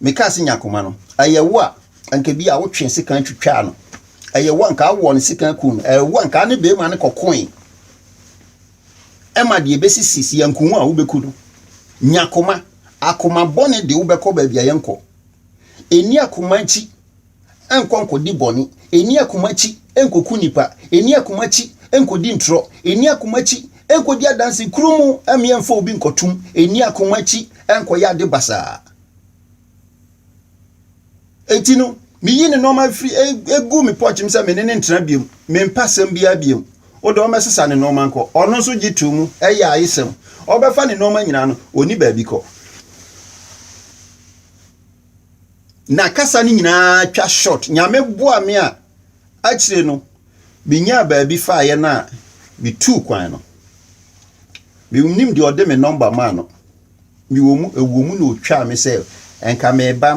mekaa sɛ nya koma no. Ɛyɛ wo a, anka bi a wotwee sekan twitwaa no. Ɛyɛ wo a, anka awɔ ne sekan kum no. Ɛyɛ wo a, anka ne bɛrima no kɔkoe. ma deɛ ɛbɛsisi si anku ho a wobɛku no nya koma akoma bɔne de wobɛkɔ baabi a yɛnkɔ ɛni akoma akyi ɛnkɔ nkɔdi bɔne ɛni akoma akyi ɛnkɔku nnipa ɛni akoma akyi ɛnkɔdi ntorɔ ɛni akoma akyi ɛnkɔdi adanse kuru mu ɛmeɛ mfa obi nkɔtom ɛni akoma akyi ɛnkɔyɛ ade basaa Enti no, meyi ne nneɛma firi egu me pɔkyem sɛ me ne no ntena biom. Mempa asɛm biara biom. Wo de ɔmmɛsesa ne nneɛma nkɔ. Ɔno nso gye too mu, ɛyɛ ayesɛm. Ɔbɛfa ne nneɛma nyinaa no, ɔnni baabi kɔ. Na kasa no nyinaa twa short. Nyame boa me a, akyire no, menyaa baabi faeɛ no a, metuu kwan no. Menim deɛ ɔde me nɔmba maa no. Mewɔ mu, ɛwɔ mu na ɔtwaa me sɛ anka mereba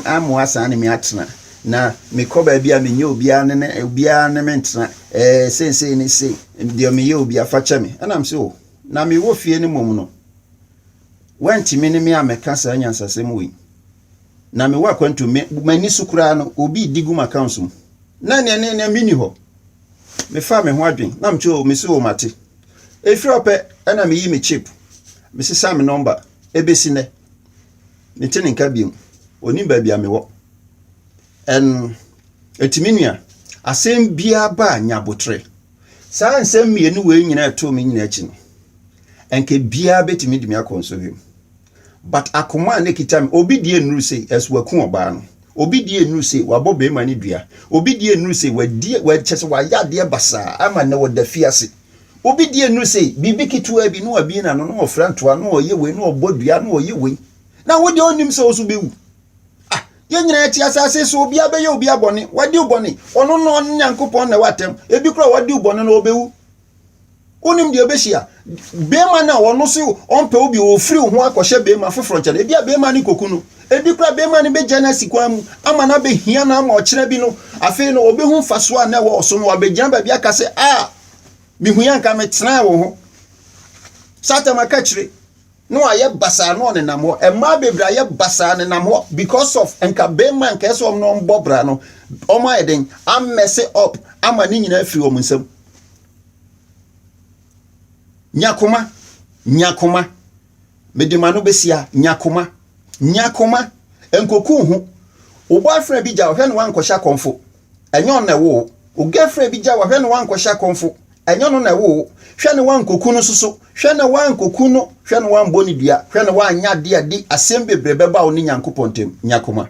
ammɔ asan ne me atena, na mekɔ baabi a menyɛ obiara ne ne obiara ne me ntena, ɛɛ seesei ne se deɛ meyɛ obiara fa kyɛ me. Ɛnam sɛ o, na mewɔ fie no mmom no, wantumi ne me ammɛka saa nyansasɛm wei. Na mewɔ akwantu, m'ani so koraa no, obi redi gu m'accounts mu. Na ɛneɛ ne ne menni hɔ. Mefaa me ho adwen, na mete o, mese o mate. Ɛfiri ɔpɛ ɛna meyi me chip, mesesa me nɔmba, ɛbɛsi nnɛ. Mete ne nka biom, ɔnim baabi a mewɔ. Ɛn, ɛti me nua, asɛm biara ba a nya aboterɛ. Saa nsɛm mmienu wei nyinaa ɛtoo me nyinaa akyi no, anka biara bɛtumi de me akɔ nsɔhwɛ mu. But akoma a na ɛkita me, obi deɛ nnuru se ɛs waku ɔbaa no, obi deɛ nnuru se wabɔ barima no dua, obi deɛ nnuru se wadi, wa, kyerɛ sɛ wayɛ adeɛ basaa ama nnɛ ɔda afiase. Obi deɛ nnuru se biribi ketewaa bi, na wabue n'ano, na ɔfira ntoa, na ɔyɛ wei, na ɔbɔ dua, na ɔyɛ wei. Na wo deɛ ɔnnim sɛ wo nso wobɛwu. Ah, yɛn nyinaa yɛte asase so, obiara bɛyɛ obiara bɔne, wadi wo bɔne, ɔno na ɔne Nyankopɔn na ɛwɔ atɛm, ebi koraa a wadi wo bɔne no ɔbɛwu. wonim deɛ ɛbɛhyia bɛrima no a ɔno so ɔmpɛ wo bi ɔfiri wo ho akɔhyɛ bɛrima foforɔ nkyɛn ebi a bɛrima no kɔku no ebi koraa bɛrima no bɛgya no asi kwan mu ama no abɛhia no ama ɔkyerɛ bi no afei no ɔbɛhu mfasoɔ a na ɛwɔ ɔso no wabɛgyina baabi aka sɛ a mehu yɛ nka metenaa wɔ ho satan maka kyire na wayɛ basaa na ɔnenam hɔ mmaa bebree ayɛ basaa nenam hɔ because of nka bɛrima nka ɛsɛ wɔn na wɔn bɔ bra no wɔn ayɛ den amɛse up ama ne nyinaa firi wɔn nsam nyakoma nyakoma mede ma no bɛsia nyakoma nyakoma nkoku ho wo boyfriend bi gya ɔhwɛ no wankɔhyɛ akɔmfo Ɛnyɛ ɔno na ɛwo wo. Wo girlfriend bi gyaw wo a, hwɛ na woankɔhyɛ akɔmfo. Ɛnyɛ ɔno na ɛwo wo. Hwɛ na woankoku no nso so. Hwɛ na woankoku no. Hwɛ na woambɔ no dua. Hwɛ na woanyɛ ade a ɛde asɛm bebree bɛba wo ne Nyankopɔn ntam. Nya koma.